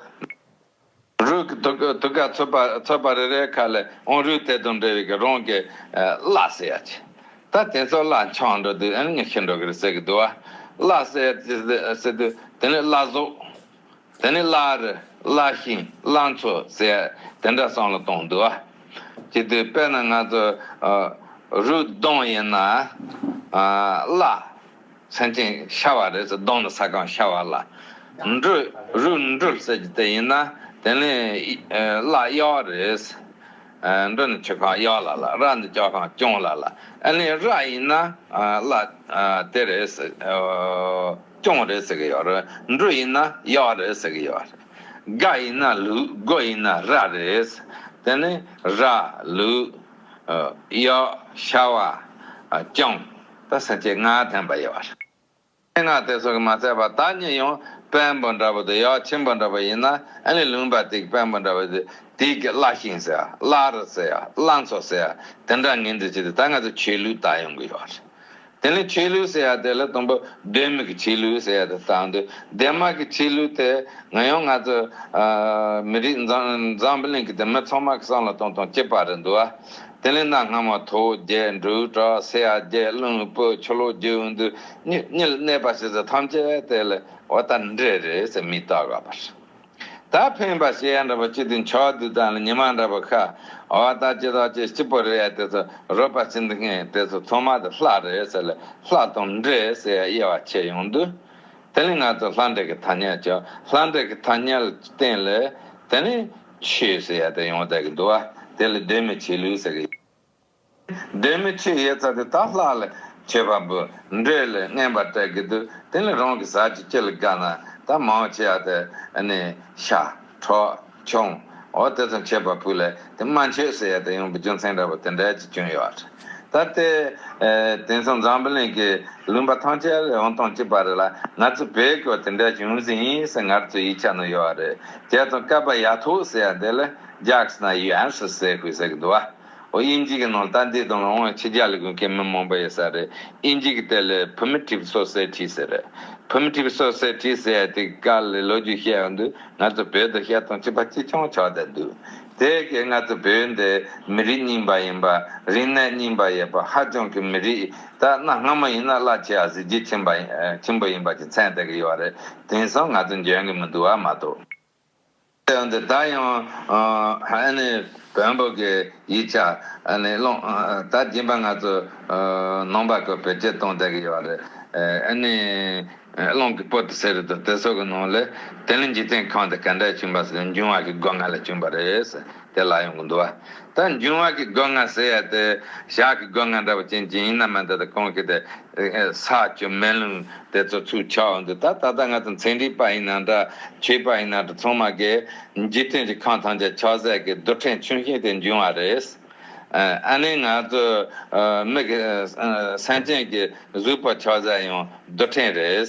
རུས་ཀྱི་ཐུགས་ཀ་ཚོད་པ་རེ་རེའི་ཁ་ལས་ཨོང་རུས་དེ་དང་འབྲེལ་བའི་རང་གི་བླ་སེ་ཡ་ཆེ། ད་དེ་ཚོ་བླ་འཆང་འགྲོ་དུས་ཨེ་ནི་ཤི་འགྲོ་གི་རེད་ཟེར་གྱི་འདུག་བ། བླ་སེ་ཡ་ཆེ་ཟེར་དུས་དེ་ནི་བླ་གཟུགས། དེ་ནས་བླ་རི་བླ་ཤིང་བླ་མཚོ་ཟེར་དེ་འདྲ་སྲང་ལ་གཏོང་འདུག་ཅི་དུས་དཔེར་ན་ང་ཚོ་རུས་གདོང་ཡིན་ན་བླ་ཚན་ཅན་ཤ་བ་རེད་ཟེར་གདོང་ནི་ས་གང་ཤ་བ་བླ་འབྲུག་རུས་འབྲུག་ཟེར་གྱི་དེ་ཡིན་ན་དེ་ནི་བླ་གཡག་རེད་འབྲུག་ནི་ཆུ་ཁང་གཡག་ལ་ལ་ར་ནི་ལྕགས་ཁང་སྐྱོང་ལ་ལ་ཨ་ནི་ར་ཡིན་ན་བླ་དེ་རེད། སྐྱོང་རེད་ཟེར་གི་ཡོད་རེད། འབྲུ་ཡིན་ན་གཡག་རེད་ཟེར་གི་ཡོད་རེད། རྒ་ཡིན་ན་ལུག་རྒོད་ཡིན་ན་ར་རེད། དེ་ནི་ར། ལུག། གཡག། ཤ་བ། སྐྱོང། ད་ཟེར་ཆེད་ངག་འཐེན་པ་ཡོད་རེད། སྙན་ངག་དེ་ཚོ་གི་མ་ཚད་པ་ད་ཉིད་ཡང་དཔལ་འབོ་འདྲ་བོ་དང་གཡག་ཆེན་པོ་འདྲ་བོ་ཡིན་ན་ཨ་ལེ་ལུང་པ་དེ་གི་དཔལ་འབོ་འདྲ་བོ་དེ་དེ་གི་བླ་ཤིང་ཟེར་ཡ་བླ་རི་ཟེར་ཡ་བླ་མཚོ་ཟེར་ཡ་དེ་འདྲ་ངན་འདྲི་བྱེད་དེ་ད་ང་ཚོ་ཆོས་ལུགས་ལྟ་ཡོང་གི་ཡོད་རེད། དེ་ནི་ཆོས་ལུགས་ཟེར་ཡ་དེ་ལ་དང་པོ་གདོད་མི་གི་ཆོས་ལུགས་ཟེར་ཡ་དེ་བཏགས་འདུག་སྡེར་མ་གི་ཆོས་ལུགས་དེ་ང་ཡང་ང་ཚོ་མི་རིགས་འཛམ་བུ་གླིང་གི་སྡེར་མ་ཚང་མ་གི་སྲང་ལ་གཏོང་དང་སྐྱེས་པ་རེད་འདུག་དེ་ལས་གནའ་སྔ་མོ་ཐོ་རྒྱལ་འབྲུག་གྲགས་སེ་ཡ་རྒྱལ་གླིང་བོ་ཆོ་ལོ་རྒྱལ་བོ་འདུ་གཉིས་གཉིས་ལ་གནས་པ་ཞེས་ཟེར་ཐམས་ཅད་དེ་ལས་བ་ད་འདྲེ་རེད་ཟེར་མི་བཏགས་ག་པར། ད་ཕན་པ་ཞེས་ཡང་འདྲ་པོ་གཅིག་དུ་འཆོལ་བ་བདུད་དང་ལ་ཉི་མ་འདྲ་པོ་ཁ་བ་ད་ཅི་ཟག་བཅས་གཅིག་པོ་རེད་ཡ་དེ་ཚོ་རོལ་པ་ཟིན་དུ་ངེས་དེ་ཚོ་ཚོང་མ་དེ་ལྷ་རེད་ཟེར་ལ་ལྷ་དང་འདྲེ་ཟེར་ཡ་དབྱེ་བ་ཕྱེ་ཡོང་དུས། དེ་ལས་ང་ཚོ་ལྷ་འདྲེ་གི་ཐ་སྙད་བཅོ་ལྷ་འདྲེ་གི་ཐ་སྙད་ལ་བརྟེན་ལ་དེ་ནས་ཆོས་ཟེར་ཡ་དེ་ཡོང་བསྡད་ཀི་འདུག་བ་དེ་ལ་སྡོད་མི་བྱེད་ལུས་ཟེར་གི། སྡོད་མི་ཆུ་ཡེ་ཚ་དེ་དག་ལྷག་ལ་ཆོས་པ་འབུ་འགྲོས་ལས་རྔན་པར་སྤྲད་ཀྱི་འདུག་དེ་ལས་རང་གི་ཟག་གཅིག་ཁྱི་ལ་དགའ་ན་ད་མའོ་ཆེ་ཡ་དེ་ནི་ཤ། གྲོག། ཁྱུང། འོ་དེ་ཙམ་བྱེད་པ་བུ་ལས་དེ་སྨྲ་མཆོད་ཟེར་ཡ་དེ་ཡོང་པའི་རྒྱུ་མཚན་འདྲ་བོ་དེ་འདྲ་ཅིག་བྱུང་ཡོད་རེད། ད་ལྟའི་དེང་སང་འཛམ་བུ་གླིང་གི་ལུང་པ་ཐམས་ཅད་ལས་ཡང་ཐང་ཅིག་པ་རེད་ལ་ང་ཚོ་བོད་སྐྱོར་དེ་འདྲ་བྱུང་ཟིན་ཡིན་ཟེར་ངར་ཚོའི་ཡིག་ཆ་ནང་ཡོད་རེད་དེ་དང་སྐལ་པ་ཡག་ཐུག་ཟེར་ཡ་འདི་ལ་རྒྱགས་ན་ཡོའན་སུ་ཟེར་ཁུལ་ཟེར་གི་འདུག་བ། ཨོ་དབྱིན་ཇིའི་ནང་ལྟ་འདི་དང་ལོ་ངོ་ཆིག་བརྒྱ་ལས་གུད་མཁན་མི་མང་པོ་ཡོད་ས་རེད་དབྱིན་ཇིའི་གི་དེ་ལས Primitive Society ཟེར་རེད Primitive Society ཟེར་ཡ་དེ་ག་ལས་ལོ་རྒྱུས་བཤད་ཡང་འདུག་ང་ཚོ་བོད་དུ་བཤད་སྟངས་གཅིག་པ་གཅིག་ཆང་ཆག་བསྡད་འདུག་དེ་གའི་ང་ཚོ་བོད་འདི་མི་རིགས་རྙིང་པ་ཡིན་པ་རིག་གནས་རྙིང་པ་ཡོད་པ་ཧ་ཅང་གི་མི་རིགས་ད་གནའ་སྔ་མོ་ཡིན་ན་བླ་ཆེ་ཡང་གཟི་བརྗིད་ཆེན་པོ་ཡིན་པ་གྱི་མཚན་བསྟད་གི་ཡོད་རེད་དེང་སང་ང་ཚོ་འཇོན་གི་མི་འདུག་བ་མ་གཏོགས། དེ་ཡང་འདི་དག་ཡང། བོན་པོ་གི་ཡིག་ཆ་སློང། ད་སྦྱིན་པ་ང་ཚོ་ནང་པ་ཀུན་བེད་སྤྱོད་གཏོང་བསྡད་ཀྱི་ཡོད་རེད། སློང་གི་པོ་ཏི་ཟེར་དུས་དེ་ཚོ་གི་ནང་ལས། དེ་ནི་འཇིག་རྟེན་གང་དུ་ག་འདྲའི་བྱུང་བ་ཟེར་འབྱུང་བ་གི་སྒོ་ང་ལས་བྱུང་བ་རེད། དེ་ལ་ཡོང་གི་འདུག་བ། ད་འབྱུང་བ་གི་སྒོ་ང་ཟེར་ཡ་དེ། ཞག་གི་སྒོ་ང་འདྲ་བོ་ཅན་གྱི་ཡིན་ན་མི་འདི་དང་གང་གི་དེ། ས་བཅུ་སྨན་ལུང་དེ་ཚོ་ཚུར་ཆ་འོ་འདུག་ད་ད་ལྟ་ང་ཚོ་མཚན་འགྲིག་པ་ཡིན་ན་འདྲ་ཁྱོད་པ་ཡིན་ན་འདྲ་ཚང་མ་གི་འཇིག་རྟེན་གྱི་ཁམས་ཐམས་ཅད་ཆགས་སྲེད་ཀྱི་རྡུལ་ཕྲན་ཆུང་ཞིང་དེ་འབྱུང་བ་རེད། ཨ་ནི་ང་ཚོ་མིག་གི་སེམས་ཅན་གྱི་གཟུགས་པོ་ཆགས་སྲེད་ཡང་རྡུལ་ཕྲན་རེད།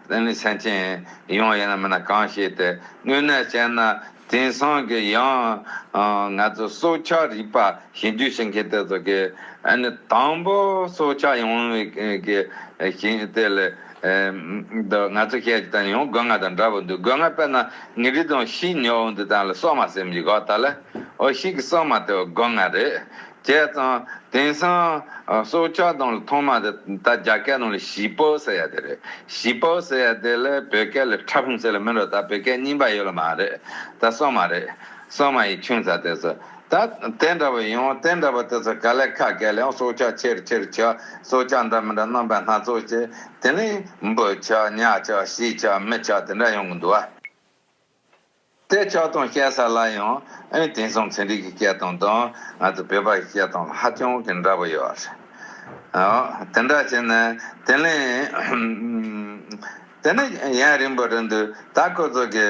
ལས་ནི་སེམས་ཅན་ཡོངས་ཡིན་ན་མིན་ན་གང་ཞིག་དེ་དངོས་གནས་ཅན་ན་དེང་སང་གི་ཡང་ང་ཚོ་སྲོག་ཆགས་རིག་པ་ཞིབ་འཇུག་བྱེད་མཁན་དེ་ཚོ་གིས་ནི་དང་པོ་སྲོག་ཆགས་ཡོངས་ཡིན་བའི་གི་ཞིང་དེ་ལས་འདི་ང་ཚོ་ཤེས་ཀྱི་དང་ཡང་དགོས་ངེས་དང་འདྲ་བོ་འདུག་དགོས་ངེས་པས་ན་ངེད་རིགས་དང་ཤི་ཉོ་འོ་འདི་དང་ལ་སྲོག་མ་སེམས་ཀྱི་གོ་ད་ལ་འོ་ཤིག་གི་སྲོག་མ་དེ་དགོས་ངེས་རེད་བྱས་ཙང། དེང་སང། སོ་སྐྱ་དང་ལ་ཐོག་མ་དེ་ད་རྒྱ་སྐད་དང་ལ་བཞི་པོ་ཟེར་ཡ་དེ་རེད། བཞི་པོ་ཟེར་ཡ་དེ་ལ་བོད་སྐད་ལ་ཁྲ་ཕུང་ཟེར་ལ་མི་འགྲོ་ད་བོད་སྐད་རྙིང་པ་ཡོད་ལ་མ་རེད་ད་སོག་མ་རེད། སོག་མ་ཡི་ཁྱོད་ཚ་དེ་ཚོ། ད་དེ་འདྲ་བ་ཡོང་དེ་འདྲ་བ་དེ་ཚོ་ག་ལེ་ཁ་སྐད་ལ་ཡང་སོ་སྐྱ་ཆེར་ཆེར་བྱ་སོ་སྐྱ་འདྲ་མི་འདྲ་རྣམ་པ་སྣ་ཚོགས་བྱེད་དེ་ནི་འབུ་ཆ་ཉག་ཆ་བཞི་ཆ་མི་ཆ་དེ་འདྲ་ཡོང་གི་འདུག་ཨ། དེ་ལྕགས་དང་སྐྱ་ས་ལ་ཡང་དེང་སང་ཚན་རིག་གི་སྐད་དང་དང་ང་ཚོ་བོད་པ་ཡི་སྐད་དང་ལ་ཧ་ཅང་གི་འདྲ་པོ་ཡོད་པ་རེད། དེ་འདྲ་བྱས་ན་དེ་ལས་དེ་ནི་ཡང་རིང་པོ་རེད་འདུག་ད་ཁོ་ཚོ་གི་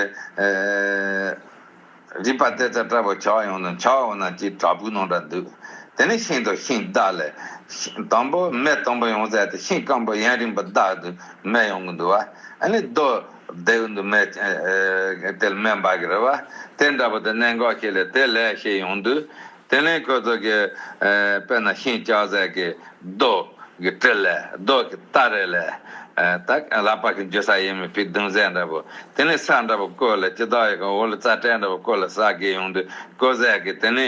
རིག་པ་དེ་ཚ་དྲག་པོ་ཆགས་ཡོང་ནི་ཆགས་འོ་ན་ཅིག་དྲག་པོའི་ནང་འདྲ་འདུག་དེ་ནི་ཤིང་དང་ཤིང་བདག་ལས་དང་པོ་མེ་དང་པོ་ཡོང་ཟེར་ཏེ་ཤིང་སྐམ་པོ་ཡང་རིང་པོ་བདག་འདུག་མེ་ཡོང་གི་འདུག་བ་ཨ་ནི་རྡོ། བདེ་བའི་འདུན་མའི་དལ་སྨད་འབའ་གི་རེ་བ། དེ་འདྲ་བ་དེ་གནད་འགག་ཁྱེད་ལས་དེ་ལས་ཤེས་ཡོང་དུས། དེ་ལན་ཁོད་ཚོ་གི་དཔེ་ན་ཤིང་ལྕགས་ཟས་ཀྱི་རྡོག་གི་དྲི་ལས་རྡོག་གི་རྟ་རེ་ལས། དག་ལ་དཔག་གིན་འཇུ་ས་ཡེ་མི་ཕིག་བདུན་ཟས་འདྲ་བོ། དེ་ནི་ས་འདྲ་བོ་བརྐོས་ལ་ཅི་དག་ཡོད་ཀྱང་འོ་ལོ་རྩ་བྲལ་འདྲ་བོ་བརྐོས་ལ་ཟ་དགེ་ཡོང་དུས་བརྐོས་ཟས་ཀྱི་དེ་ནི་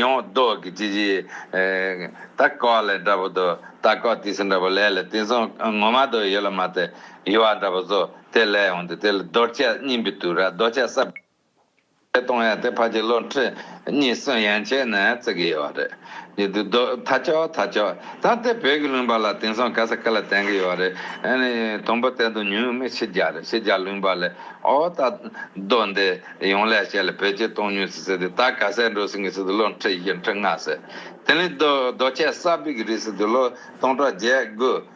ཡང་རྡོག་གི་ཅི་བྱེད། དག་ལ་ལས་འདྲ་བོ་དུ་དག་ཀག་ཏི་སི་འདྲ་བོ་ལས་ལ་དེང་སང་ངོ་མ་དུ་ཡོད་ལ་མ་སྟེ། དབྱེ་བ་འདྲ་པོ་རྫོགས་དེ་ལས་འོངས་ཏེ་དེ་ལ་རྡོ་རྗེ་སྙིང་པོའི་དུས་ར་རྡོ་རྗེ་སྲབ་ཀྱི་ལས་སྟོང་ཡང་དེ་ཕར་གྱི་བློ་འཁྲུལ་གཉིས་སུ་ཡན་ཆད་ནས་བརྩི་གི་ཡོད་པ་རེད། ཡུལ་དུས་རྡོ་ཐ་ཅོག་ཐ་ཅོག་དང་དེ་བོད་ཀྱི་ལུང་པ་ལ་དེང་སང་ག་ས་ག་ལ་བསྟན་གི་ཡོད་རེད། དང་པོ་དེ་དུ་ཉུང་མི་ཕྱི་རྒྱ་རེད་ཕྱི་རྒྱ་ལུང་པ་ལས་ཨོ་ད་རྡོ་འདི་ཡོང་ལས་བྱས་ལ་བོད་ཀྱི་སྟོང་ཉུང་སི་ཟེར་ཏེ་ད་ག་སའི་འགྲོ་སྲིན་གི་སི་དུ་བློ་འཁྲུལ་བཞི་འཁྲུལ་ལྔ་ཟེར་དེ་ནི་རྡོ་རྗེ་སྲབ་པིག་གི་རིགས་སི་དུ་ལོ་སྟོང་གྲོགས་བརྒྱད་དགུ།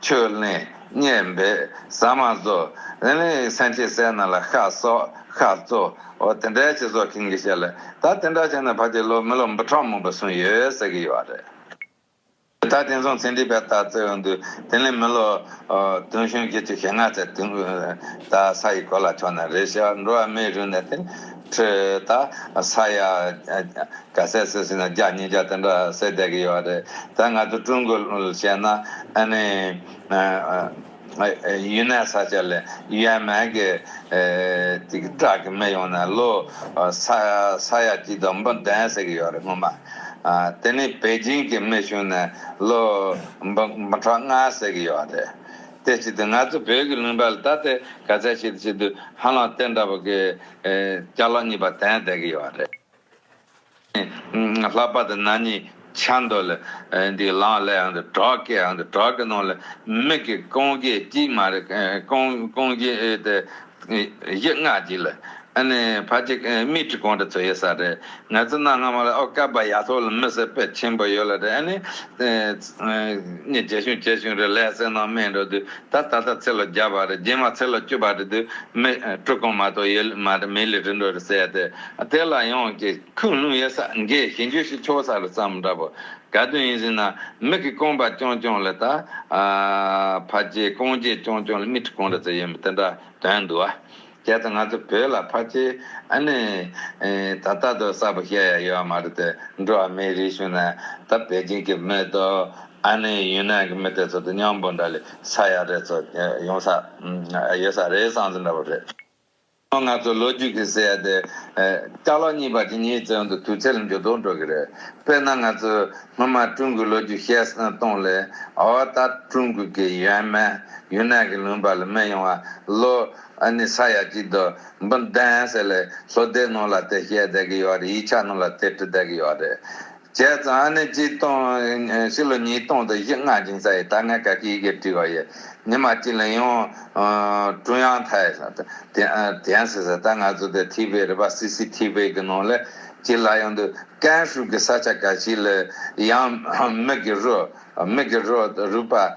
ཆོས་གླིང་སྙན་པའི་ཟ་མ་བཟོ། ལན་ལན་ཡིག་ཚན་ཁྱི་སེར་ནག་ལ་ཤ་སོགས་ཤ་གཙོ། འོ་དེ་འདྲའི་ཁྱི་བཟོ་མཁན་གྱི་ཞལ་ལས་ད་དེ་འདྲ་བྱས་ན་ཕ་དེའི་ལོ་མི་ལོ་འབུ་ཕྲག་མང་པོ་སོན་ཡོད་ཟེར་གི་ཡོད་རེད། ད་དེང་སང་ཚན་རིག་པའི་ལྟ་ཚུལ་འོན་དུས་དེ་ལས་མི་ལོ་དུང་ཞོན་གྱི་དུས་ཞེ་ལྔ་ཚད་དུང་ད་ས་ཡི་གོ་ལ་ཕྱོགས་ན་རེད་ཤག་འགྲོ་བ་མིའི་རིགས་ནི་དེ། ཁྲོད་ད་ས་ཡ་ག་ཟེར་ཟེར་ཟིན་ན་བརྒྱ་ཉིས་བརྒྱ་དེ་འདྲ་ཟེར་བསྡད་ཀྱི་ཡོད་རེད་ད་ང་ཚོ་ཀྲུང་གོ་བཤད་ན་ཨ་ནི་ཡུན་ནན་ས་ཆ་ལས་ཡན་མན་གྱི་དེ་གི་བྲག་གི་མི་ཡོང་ན་ལོ་ས་ཡ་གཅིག་དང་འབུམ་བདུན་ཟེར་གྱི་ཡོད་རེད་སྔོན་མ་དེ་ནི་པེ་ཅིན་གྱི་མི་བྱུང་ནས་ལོ་འབུམ་ཕྲག་ལྔ་ཟེར་གྱི་ཡོད་རེད། དེ་ཅི་སྟེ་ང་ཚོ་བོད་ཀྱི་གླིང་བྲག་ལ་ད་ལྟའི་ག་ཚད་ཤེས་ཤེས་དུས་ཧ་ལམ་རྟེན་འདྲ་པོ་གི་སྐྱ་ལོག་གཉིས་པ་དེ་ཡང་བསྡད་ཀྱི་ཡོད་པ་རེད། ལྷག་པར་དུ་ན་ནིང་ཆ་མདོ་ལ་འདི་ལངས་སླད་ཡང་དུ་བྲག་གི་ཡང་དུ་བྲག་གི་ནང་ལ་མིག་གིས་རྐང་རྗེས་གཅིག་མ་རེད་རྐང་རྗེས་དེ་གཞི་སྔགས་གཅིག་ལ། ཕ་གཅིག་རྨིད་ཁྲི་གོང་དུ་ཚུད་ཡོད་ས་རེད། ང་ཚོ་གནའ་སྔ་མོ་ལ་ཨོ་སྐལ་པ་ཡ་ཐོག་ལ་མི་སེར་པད་ཆེན་པོ་ཡོད་ལ་རེད་ཨ་ནི། རྗེ་གཞུང་བཅད་གཞུང་རེད་ལས་སེར་ནང་སྨད་འགྲོ་དུས་ད་ད་ད་ཚེ་ལོ་བརྒྱ་པ་རེད་རྗེས་མ་ཚེ་ལོ་བཅུ་པ་རེད་དུས་མི་དྲུག་གོང་མ་གཏོགས་ཡོད་མ་རེད་མི་ལས་རིན་འགྲོ་རེད་ཟེར་ཡ་དེ་ལ་ཡོང་ཅིག། ཁུངས་ལུང་ཡོད་ས་འགས་ཞེ་འགྱོད་ཤིག་ཆོག་ས་ལ་བརྩམས་འདྲ་པོ་ག་དུས་ཡིན་ཟེར་ན་མིག་གི་རྐང་པ་རྐྱང་རྐྱང་ལ་ད་ཕ་རྗེས་རྐང་རྗེས་རྐྱང་རྐྱང་ལ་མིག་ཁྲི་གང་འདྲ་ཙམ་ཡོད་མེད་དེ་འདྲ་དོན་འདུག་ཨ། གལ་ཏེ་ང་ཚོ་བོད་ལ་ཕ་རྗེས་ཨ་ནེ་ད་ལྟ་དུ་གསར་པོ་བཤད་ཡ་ཡོད་མ་རེད་དེ་འགྲོ་བ་མིའི་རིགས་བྱུང་ན་ད་པེ་ཅིན་གྱི་མི་དང་ཨ་ནེ་ཡུན་ནན་གྱི་མི་དེ་ཚོ་དང་མཉམ་པོ་འདྲ་ལས་ས་ཡ་རེ་ཚོ་ཡོང་ས་ཡོད་ས་རེད་བསམ་ཟིན་འདྲ་པོ་རེད། ཁོང་ང་ཚོ་ལོ་རྒྱུས་ཀྱི་སྲས་དེ། སྐྲ་ལོ་གཉིས་པ་དེ་གཉིས་བཙོན་དུ་དུས་ཚོད་འགྱུར་ལྡོག་འགྲོ་གི་རེད། དཔེར་ན་ང་ཚོས་སྔོན་མ་ཀྲུང་གོའི་ལོ་རྒྱུས་བཤད་སྟངས་ལས། འོ་ད་ཀྲུང་གོ་གི་ཡོན་མན་ཡུན་ནན་གྱི་ལུང་པ་ལ་སྨད་ཡོང་བ་ལོ། ཨ་ནི་ས་ཡ་གཅིག་དུ་འབུམ་བདུན་ཟེར་ལས། ལྷོ་སྡེ་རྣོ་ལ་དེ་བཤད་བསྡད་ཀྱི་ཡོད་རེད་ཡིག་ཆ་རྣོ་ལ་དེ་བྲི་བསྡད་ཀྱི་ཡོད་རེད། བྱས་ཙང་ཨ་ནི་གཅིག་སྟོང། ཕྱི་ལོ་ཉིས་སྟོང་དང་བཞི་ལྔ་འབྱུང་ས་ཡི་ད་སྔའི་སྐད་ཀྱི་ཡི་གེ་བྲིས་པ་ཡི། ཉི་མ་གཅིག་ལ་ཡང། ཀྲུང་དབྱང་ཐའེ། དེའང་ཟེར་ས་ད་ང་ཚོ་དེ་ཐིས་པའི་རེད་པ་སི་སི་ཐིས་པའི་གི་ནང་ལས་གཅིག་ལ་ཡང་འདུག་ཀན་ཧྲུའུ་གི་ས་ཆ་ག་ཞིག་ལ་ཡང། མིག་གི་རུས། Mickey Road། རུས་པ།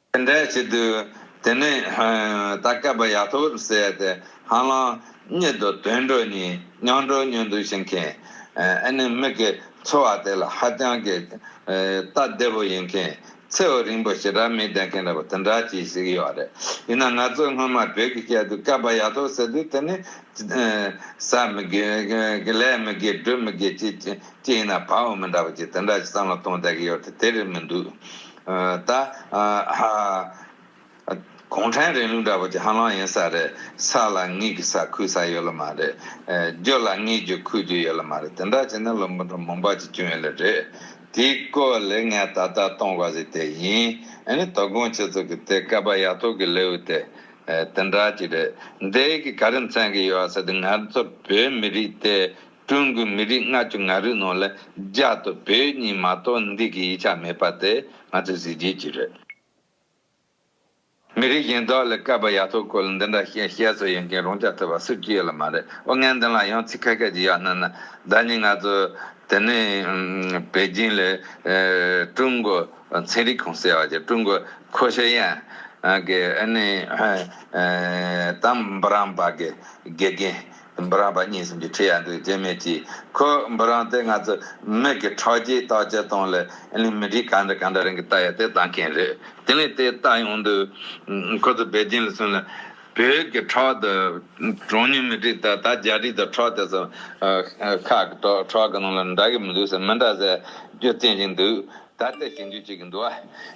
དེ་འདྲའི་ཆེད་དུ་དེ་ནས་ད་སྐལ་པ་ཡ་ཐོར་ཟས་དེ་ཧང་ལང་རྙེད་དོ་དོན་འགྲོ་གཉིས་མྱང་འགྲོ་སྙོན་འདུག་བྱེད་མཁན་ཨེ་ནི་མི་གི་འཚོ་བ་དེ་ལ་ཧ་ཅང་གི་སྟབས་བདེ་པོ་ཡིན་མཁན་ཚེའུ་རིང་པོ་ཞེ་དྲག་མི་བསྡད་མཁན་རེད་པ་དེ་འདྲ་ཅིག་ཞིག་ཡོད་རེད་ཡིན་ན་ང་ཚོས་སྔོན་མ་བོད་ཀྱི་སྐད་དུ་སྐལ་པ་ཡ་ཐོར་ཟེར་དུས་དེ་ནི་ཟ་མི་དགོས་ལས་མི་དགོས་སྒྲུབ་མི་དགོས་ཅིག་ཅིག་ཡིན་ན་བག་འོ་མི་འདྲ་པ་ཅིག་དེ་འདྲ་ཞིག་བསམ་བློ་གཏོང་བསྡད་ཀྱི་ཡོད་དེ་དེ་རེད་མི་འདུག། ད་ཧཧཧཧཧ། གུང་ཁྲན་རིང་ལུགས་འདྲ་པོ་དེ་ཧ་ལམ་ཡིན་ས་རེད། ས་ལ་ངེད་ཀྱི་ས་ཁུལ་ས་ཡོད་ལ་མ་རེད། རྒྱུ་ལ་ངེད་རྒྱུ་ཁུལ་རྒྱུ་ཡོད་ལ་མ་རེད་དེ་འདྲ་བྱས་ན་ལོ་འབུམ་ཕྲག་མང་པ་ཅིག་སྐྱོན་ཡོད་ལ་རེད། དེའི་སྐོར་ལས་ངས་ད་ལྟ་གཏོང་དགོས་ཟིག་དེ་ཡིན། ཨ་ནི་དོ་དགོང་ཁྱེད་ཚོ་གི་དེ་སྐལ་པ་ཡག་ཐོག་གི་ལེའུ་དེ་དེ་འདྲ་ཅིག་རེད། འདས་ཀྱི་ག་རེ་མཚན་གི་ཡོད་ཟེར་དུས་ང་ཚོ་བོད་མི་རིགས་དེ་ཀྲུང་གོའི་མི་རིགས་ལྔ་བཅུ་ང་རིགས་ནང་ལ་རྒྱ་དང་བོད་གཉིས་མ་གཏོགས་འདི་གའི་ཡིག་ཆ་མེད་པ་དེ་ང་ཚོའི་གཟི་བརྗིད་ཅིག་རེད། མི་རིགས་གཞན་དག་ལ་སྐལ་པ་ཡག་ཐོག་སྐོར་ལ་འདི་འདྲ་བཤད་བཤད་སོགས་ཡོད་མཁན་རང་ཅག་ཐོས་པ་སུ་གཅིག་ཡོད་ལ་མ་རེད་ཨོ་ངས་འདི་ལ་ཡང་ཚིག་ཁ་ཁ་ཅིག་གཡར་སྣང་ན་ཟླ་གཉིས་ང་ཚོ་དེ་ནས་པེ་ཅིང་ལ་ཀྲུང་གོ་ཚན་རིག་ཁང་ཟེར་བ་ཅིག་ཀྲུང་གོ་ཁོ་ཤ་ཡན་གྱི་ཨ་ནེ་ཏམ་པ་རམ་པ་གི་དགེ་རྒན། འབུ་རམས་པ་རྙེད་ཟིན་པའི་ཁྲི་ཡར་འདུག་རྒྱུ་མེད་ཀྱིས་ཁོས་འབུ་རམས་དེ་ང་ཚོ་མིག་གི་ཁྲག་རྒྱའི་རྟགས་ཅན་སྟོང་ལས་གླིང་མི་འདིས་ག་འདྲ་ག་འདྲ་རང་གི་རྟ་ཡག་དེ་བཏང་མཁན་རེད་དེ་ནས་དེ་བཏང་ཡོང་དུས་ཁོ་ཚོ་བད་རྒྱན་ལ་སོན་ལ་བོད་ཀྱི་ཁྲག་དེ་གྲངས་ཉུང་མི་དྲུག་དང་ད་བརྒྱ་ཁྲི་དེ་ཁྲག་དེ་ཚོ་ཁ་གི་ཁྲག་ཁྲག་གི་ནང་ལ་འདྲ་གི་མི་འདུག་ཟེར་མི་འདྲ་ཟེར་རྒྱུ་བསྟན་བཞིན་འདུག་ད་ལྟ་ཞིབ་འཇུག་བྱེད་ཀྱི་འདུག་ཨ་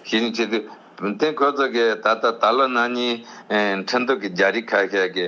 ཞིབ་འཇུག་བྱེད་དུས་དེ་ཁོ་ཚོ་གིས་ད་ལྟ་ད་ལོ་ན་ནིང་ཁྲི་འདུག་གི་བརྒྱ་ཁྲི་ཁ་ཤས་ཀྱི།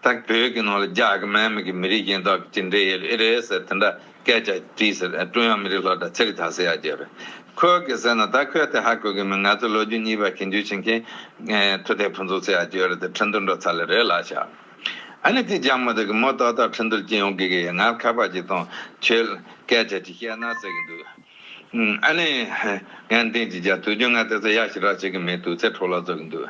ཐག་བོད་ཀྱི་ནང་ལ་རྒྱ་གི་མན་མི་གི་མི་རིགས་གཞན་དག་གི་ཅི་འདྲའི་ཡལ་ཨི་རེད་ཟེར་དེ་འདྲ་སྐད་ཆ་དྲིས་ཟེར་ཨ་ཀྲུང་ཡང་མི་རིགས་ལྷོ་ད་ཚེ་རི་ད་སེ་ཡ་རྒྱལ་རེད་ཁོལ་གི་ཟེར་ན་ད་ཁོལ་དེ་ཧ་གོ་གི་མི་ང་ཚོ་ལོ་རྒྱུས་གཉིས་པ་གྱེས་འདུས་ཕྱིན་མཁན་མཐུ་དེ་ཕུན་ཚོགས་ཚེ་ཡ་རྒྱལ་རེད་དེ་ཁྲི་འདུར་འགྲོ་ཚར་ལེ་རེད་ལ་ཤ་ཨ་ནི་དེ་རྒྱ་མོ་དག་གི་མོ་ཏོག་དག་ཁྲི་འདུར་གྱེས་ཡོང་གི་གི་ཡ་ངར་ཁ་པར་ཅིག་བཏང་ཁྱོད་ལ་སྐད་ཆ་ཅིག་བཤད་ན་ཟེར་གི་འདུག་ཨ་ནི་ངའི་འདེང་ཅིག་རྒྱ་དུས་རྒྱུན་ང་དེ་ཚོ་ཡ་ཞིག་རག་བྱེད་གི་མེད་དུས་ཚེ་ཁྲོ་ལ་རྫོགས་གི་འདུག་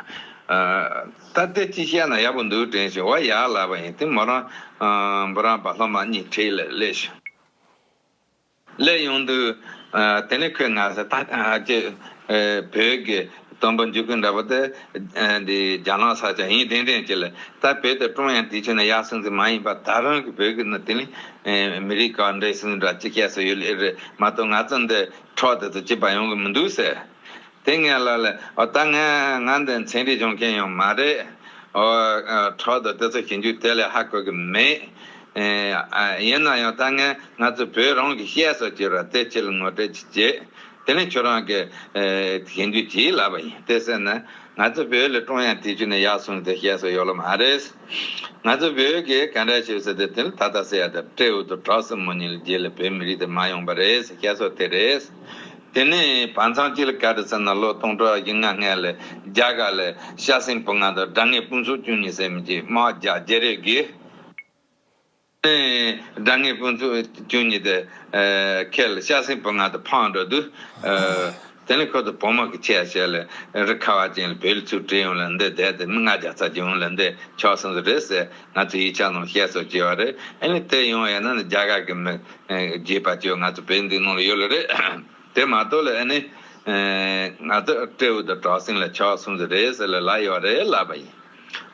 ཨ། སྟབས་བདེ་གཅིག་བཤད་ན་ཡག་པོ་འདུག་དྲན་བཞིན་བ་ཡག་ལབ་པ་ཡིན་དེ་མོ་རང་བུ་རང་བ་ལྷོ་མ་གཉིས་ཁྲིད་ལེ་ལེ་ཞུ། ལས་ཡོང་དུས། དེ་ནས་ཁོས་ང་ཚོ་ཐང་སྐྱེ། བོད་ཀྱི་དོན་པོ་འཇུག་ཁུལ་འདྲ་པོ་དེ། འདི་རྒྱ་ནག་ས་ཆ་ཡིན་དྲན་དྲན་བྱེད་ལེ། ད་བོད་དེ་ཀྲུང་དབྱང་དུས་ཆེན་ན་ཡག་སྲིང་སྲིང་མ་ཡིན་པ་ད་རང་གི་བོད་ཀྱི་ནི་དེ་ནི། མི་རིགས་གང་འདྲའི་སྲིང་སྲིང་འདྲ་ཅི་བཤད་སྲོལ་ཡོད་ལེ་རེད་མ་གཏོགས་ང་ཚོ་འདི་འཕྲོག་དེ་ཚོ་ཅི་བ་ཡོང་གི་མི་འདུག་ཟེར། དེ་ངས་ལབ་ལ། ཨོ་ད་ངས་ང་འདི་མཚན་རིག་སྦྱོང་མཁན་ཡང་མ་རེད། ཨོ། ཁྲོག་དུ་དེ་ཚོ་བྱེད་རྒྱུ་དེ་ལས་ཧ་གོ་གི་མེད། ཡིན་ན་ཡང་ད་ངས་ང་ཚོའི་བོད་རང་གི་གཤེགས་སུ་གྱུར་བ་དེ་ཁྱེད་ལ་ངོ་སྤྲོད་ཅིག་བྱེད། དེ་ནི་ཁྱོད་རང་གིས་བྱེད་འདོད་ཅིག་ལབ་པ་ཡིན་དེ་ཟེར་ན། ང་ཚོ་བོད་ལ་ཀྲོང་ཡང་དེ་ཆུ་ནས་ཡར་སོང་སྟེ་གཤེགས་སུ་ཡོད་ལ་མ་རེད། ང་ཚོ་བོད་གིས་ག་འདྲ་བྱེད་ཟེར་ཏེ་དེ་ལ་ད་ལྟ་སེ་ཡ་དང་སྤྲེའུ་དང་གྲོགས་སེ་མོ་གཉིས་ལས་རྗེས་ལ་བོད་མི་རིགས་དེ་མ་ཡོང་པ་རེད་ཟེར་གཤེགས་སུ་དེ་རེད། དེ་ནས་བར་མཚམས་སྐྱིད་ལ་ག་དུ་ཚུད་ན་ལོ་སྟོང་དྲུག་བཞི་ལྔ་སྔས་ལ་རྒྱ་གར་ལ་ཤ་སྲིན་བུ་ལྔ་དང་དགྲ་ངན་སྤུན་ཚོགས་བཅུ་གཉིས་སེར་མི་གཅིག་དམག་བརྒྱ་བརྒྱད་རེ་བགོས། དགྲ་ངན་སྤུན་ཚོགས་བཅུ་གཉིས་དེ་ཁས་ལ་ཤ་སྲིན་བུ་ལྔ་དང་ཕང་འགྲོ་དུས། དེ་ནས་ཁོ་ཚོ་བོད་དམག་གི་ཆས་བྱས་ལ་རི་ཁ་བ་ཅན་ལ་བེད་ལུགས་ཚུར་དྲིལ་ཡོང་ལ་འདི་བསྡད་དེ་མི་ལྔ་བརྒྱ་ཚར་གཅིག་ཡོང་ལ་འདི་ཆོག་གསུངས་སོ་རེད་ཟེར་ང་ཚོས་ཡིག་ཆ་ནང་བཤད་སོ་ཅེས་བ་རེད་ཨེ་ལས་དེ་ཡོང་ཡ་ན་ནི་རྒྱ་གར་གི་མི་རྒྱས་པ་ཁྱོད་ང་ཚོ་བོད་འདི་ནང་ལ་ཡོད་ལ་རེད། དེ་མ་གཏོགས་ལ་ཨ་ནི། ང་ཚོ་སྤྲེའུ་དང་བྲག་སྲིན་ལ་ཆགས་གསུམ་དུ་རེད་ཟེར་ལ་ལ་ཡོད་རེད་ལབ་པ་ཡིན།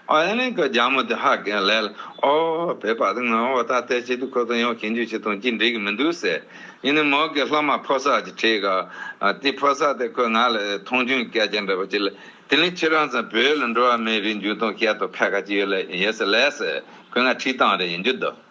ཨོ་ཨེ་ནི་ཁོས་རྒྱ་མོ་དེ་ཧ་གས་ལས་ལ་ཨོ། བོད་པ་དེ་ང་འོ་ད་ལྟའི་ཆེད་དུ་ཁོ་ཚོ་ཡང་ཞིབ་འཇུག་བྱེད་དང་ཅི་འགྲིག་གི་མི་འདུག་ཟེར། ཡིན་ནའི་མོ་གིས་ལྷག་མ་ཕོ་སར་གྱི་ཁྲིད་ག། དེ་ཕོ་སར་དེ་ཁོས་ང་ལ་མཐོང་ཆུང་སྐད་ཆ་འདྲ་པོ་བྱེད་ལ། དེ་ནི་ཁྱེད་རང་ཚོ་བོད་ལ་འགྲོ་བ་མིའི་རིགས་འཇུག་དང་བཤད་དང་ཕལ་ཁ་ཅི་ཡོད་ལ་ཡིན་ཟེར་ལས་ཟེར། ཁོས་ང་ཁྲིད་སྟངས་རེ་ཡིན་རྒྱུ་འདུག།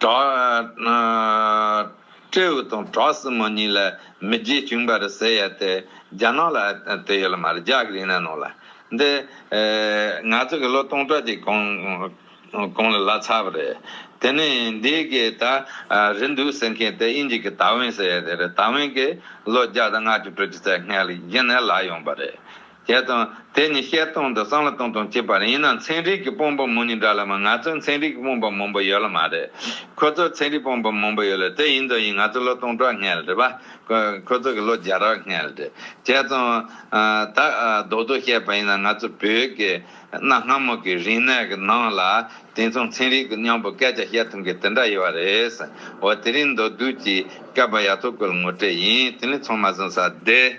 བྲག། སྤྲེའུ་དང་བྲག་སྲིན་མོ་གཉིས་ལ་མི་རྗེ་བྱུང་བར་ཟེར་ཡ་དེ་རྒྱ་ནག་ལ་དེ་ཡོད་ལ་མ་རེད་རྒྱ་གི་རིང་ལ་ནང་ལ་འདི་ང་ཚོ་གི་ལོ་སྟོང་ཕྲག་གི་གོང་གོང་ལ་ལ་ཚར་བ་རེད་དེ་ནས་འདི་གི་ད་རེད་འདུག་ཟེར་མཁན་དེ་ཨིན་ཇི་གི་ད་ཝན་ཟེར་ཡ་དེ་རེད་ད་ཝན་གི་ལོ་བརྒྱ་དང་ལྔ་བཅུ་དྲུག་ཅུ་རྩ་ལྔའི་ལ་ཡིན་ན་ལ་ཡོང་བ་རེད་ཞེས་དང། དེ་ནི་བཤད་སྟངས་དང་སྲང་ལ་བཏང་སྟངས་གཅིག་པ་རེད་ཡིན་ན་ཚན་རིག་གི་དཔོན་པོ་མོ་ནི་འདྲ་ལ་མ་ང་ཚོའི་ཚན་རིག་གི་དཔོན་པོ་མང་པོ་ཡོད་ལ་མ་རེད། ཁོ་ཚོའི་ཚན་རིག་དཔོན་པོ་མང་པོ་ཡོད་ལ་དེ་ཡིན་དང་ཡིན་ང་ཚོ་ལོ་སྟོང་ཕྲག་སྔལ་རེད་པ། ཁོ་ཚོ་གི་ལོ་བརྒྱ་རག་སྔལ་རེད། བྱས་ཙང། ད་རྡོག་རྡོག་བཤད་པ་ཡིན་ན་ང་ཚོ་བོད་ཀྱི་གནའ་སྔ་མོ་གི་རིག་གནས་ཀྱི་ནང་ལ་དེང་མཚུངས་ཚན་རིག་གི་སྙམ་པོ་སྐད་ཆ་བཤད་ཐུབ་མཁན་དེ་འདྲ་ཡོད་པ་རེད། འོ་དེ་རིང་མདོ་བསྡུས་ཀྱི་བསྐལ་པ་ཡག་ཐོག་གི་ངོ་སྤྲད་ཡིན་དེ་ལས་ཚང་མ་བཟང་ས་བདེ།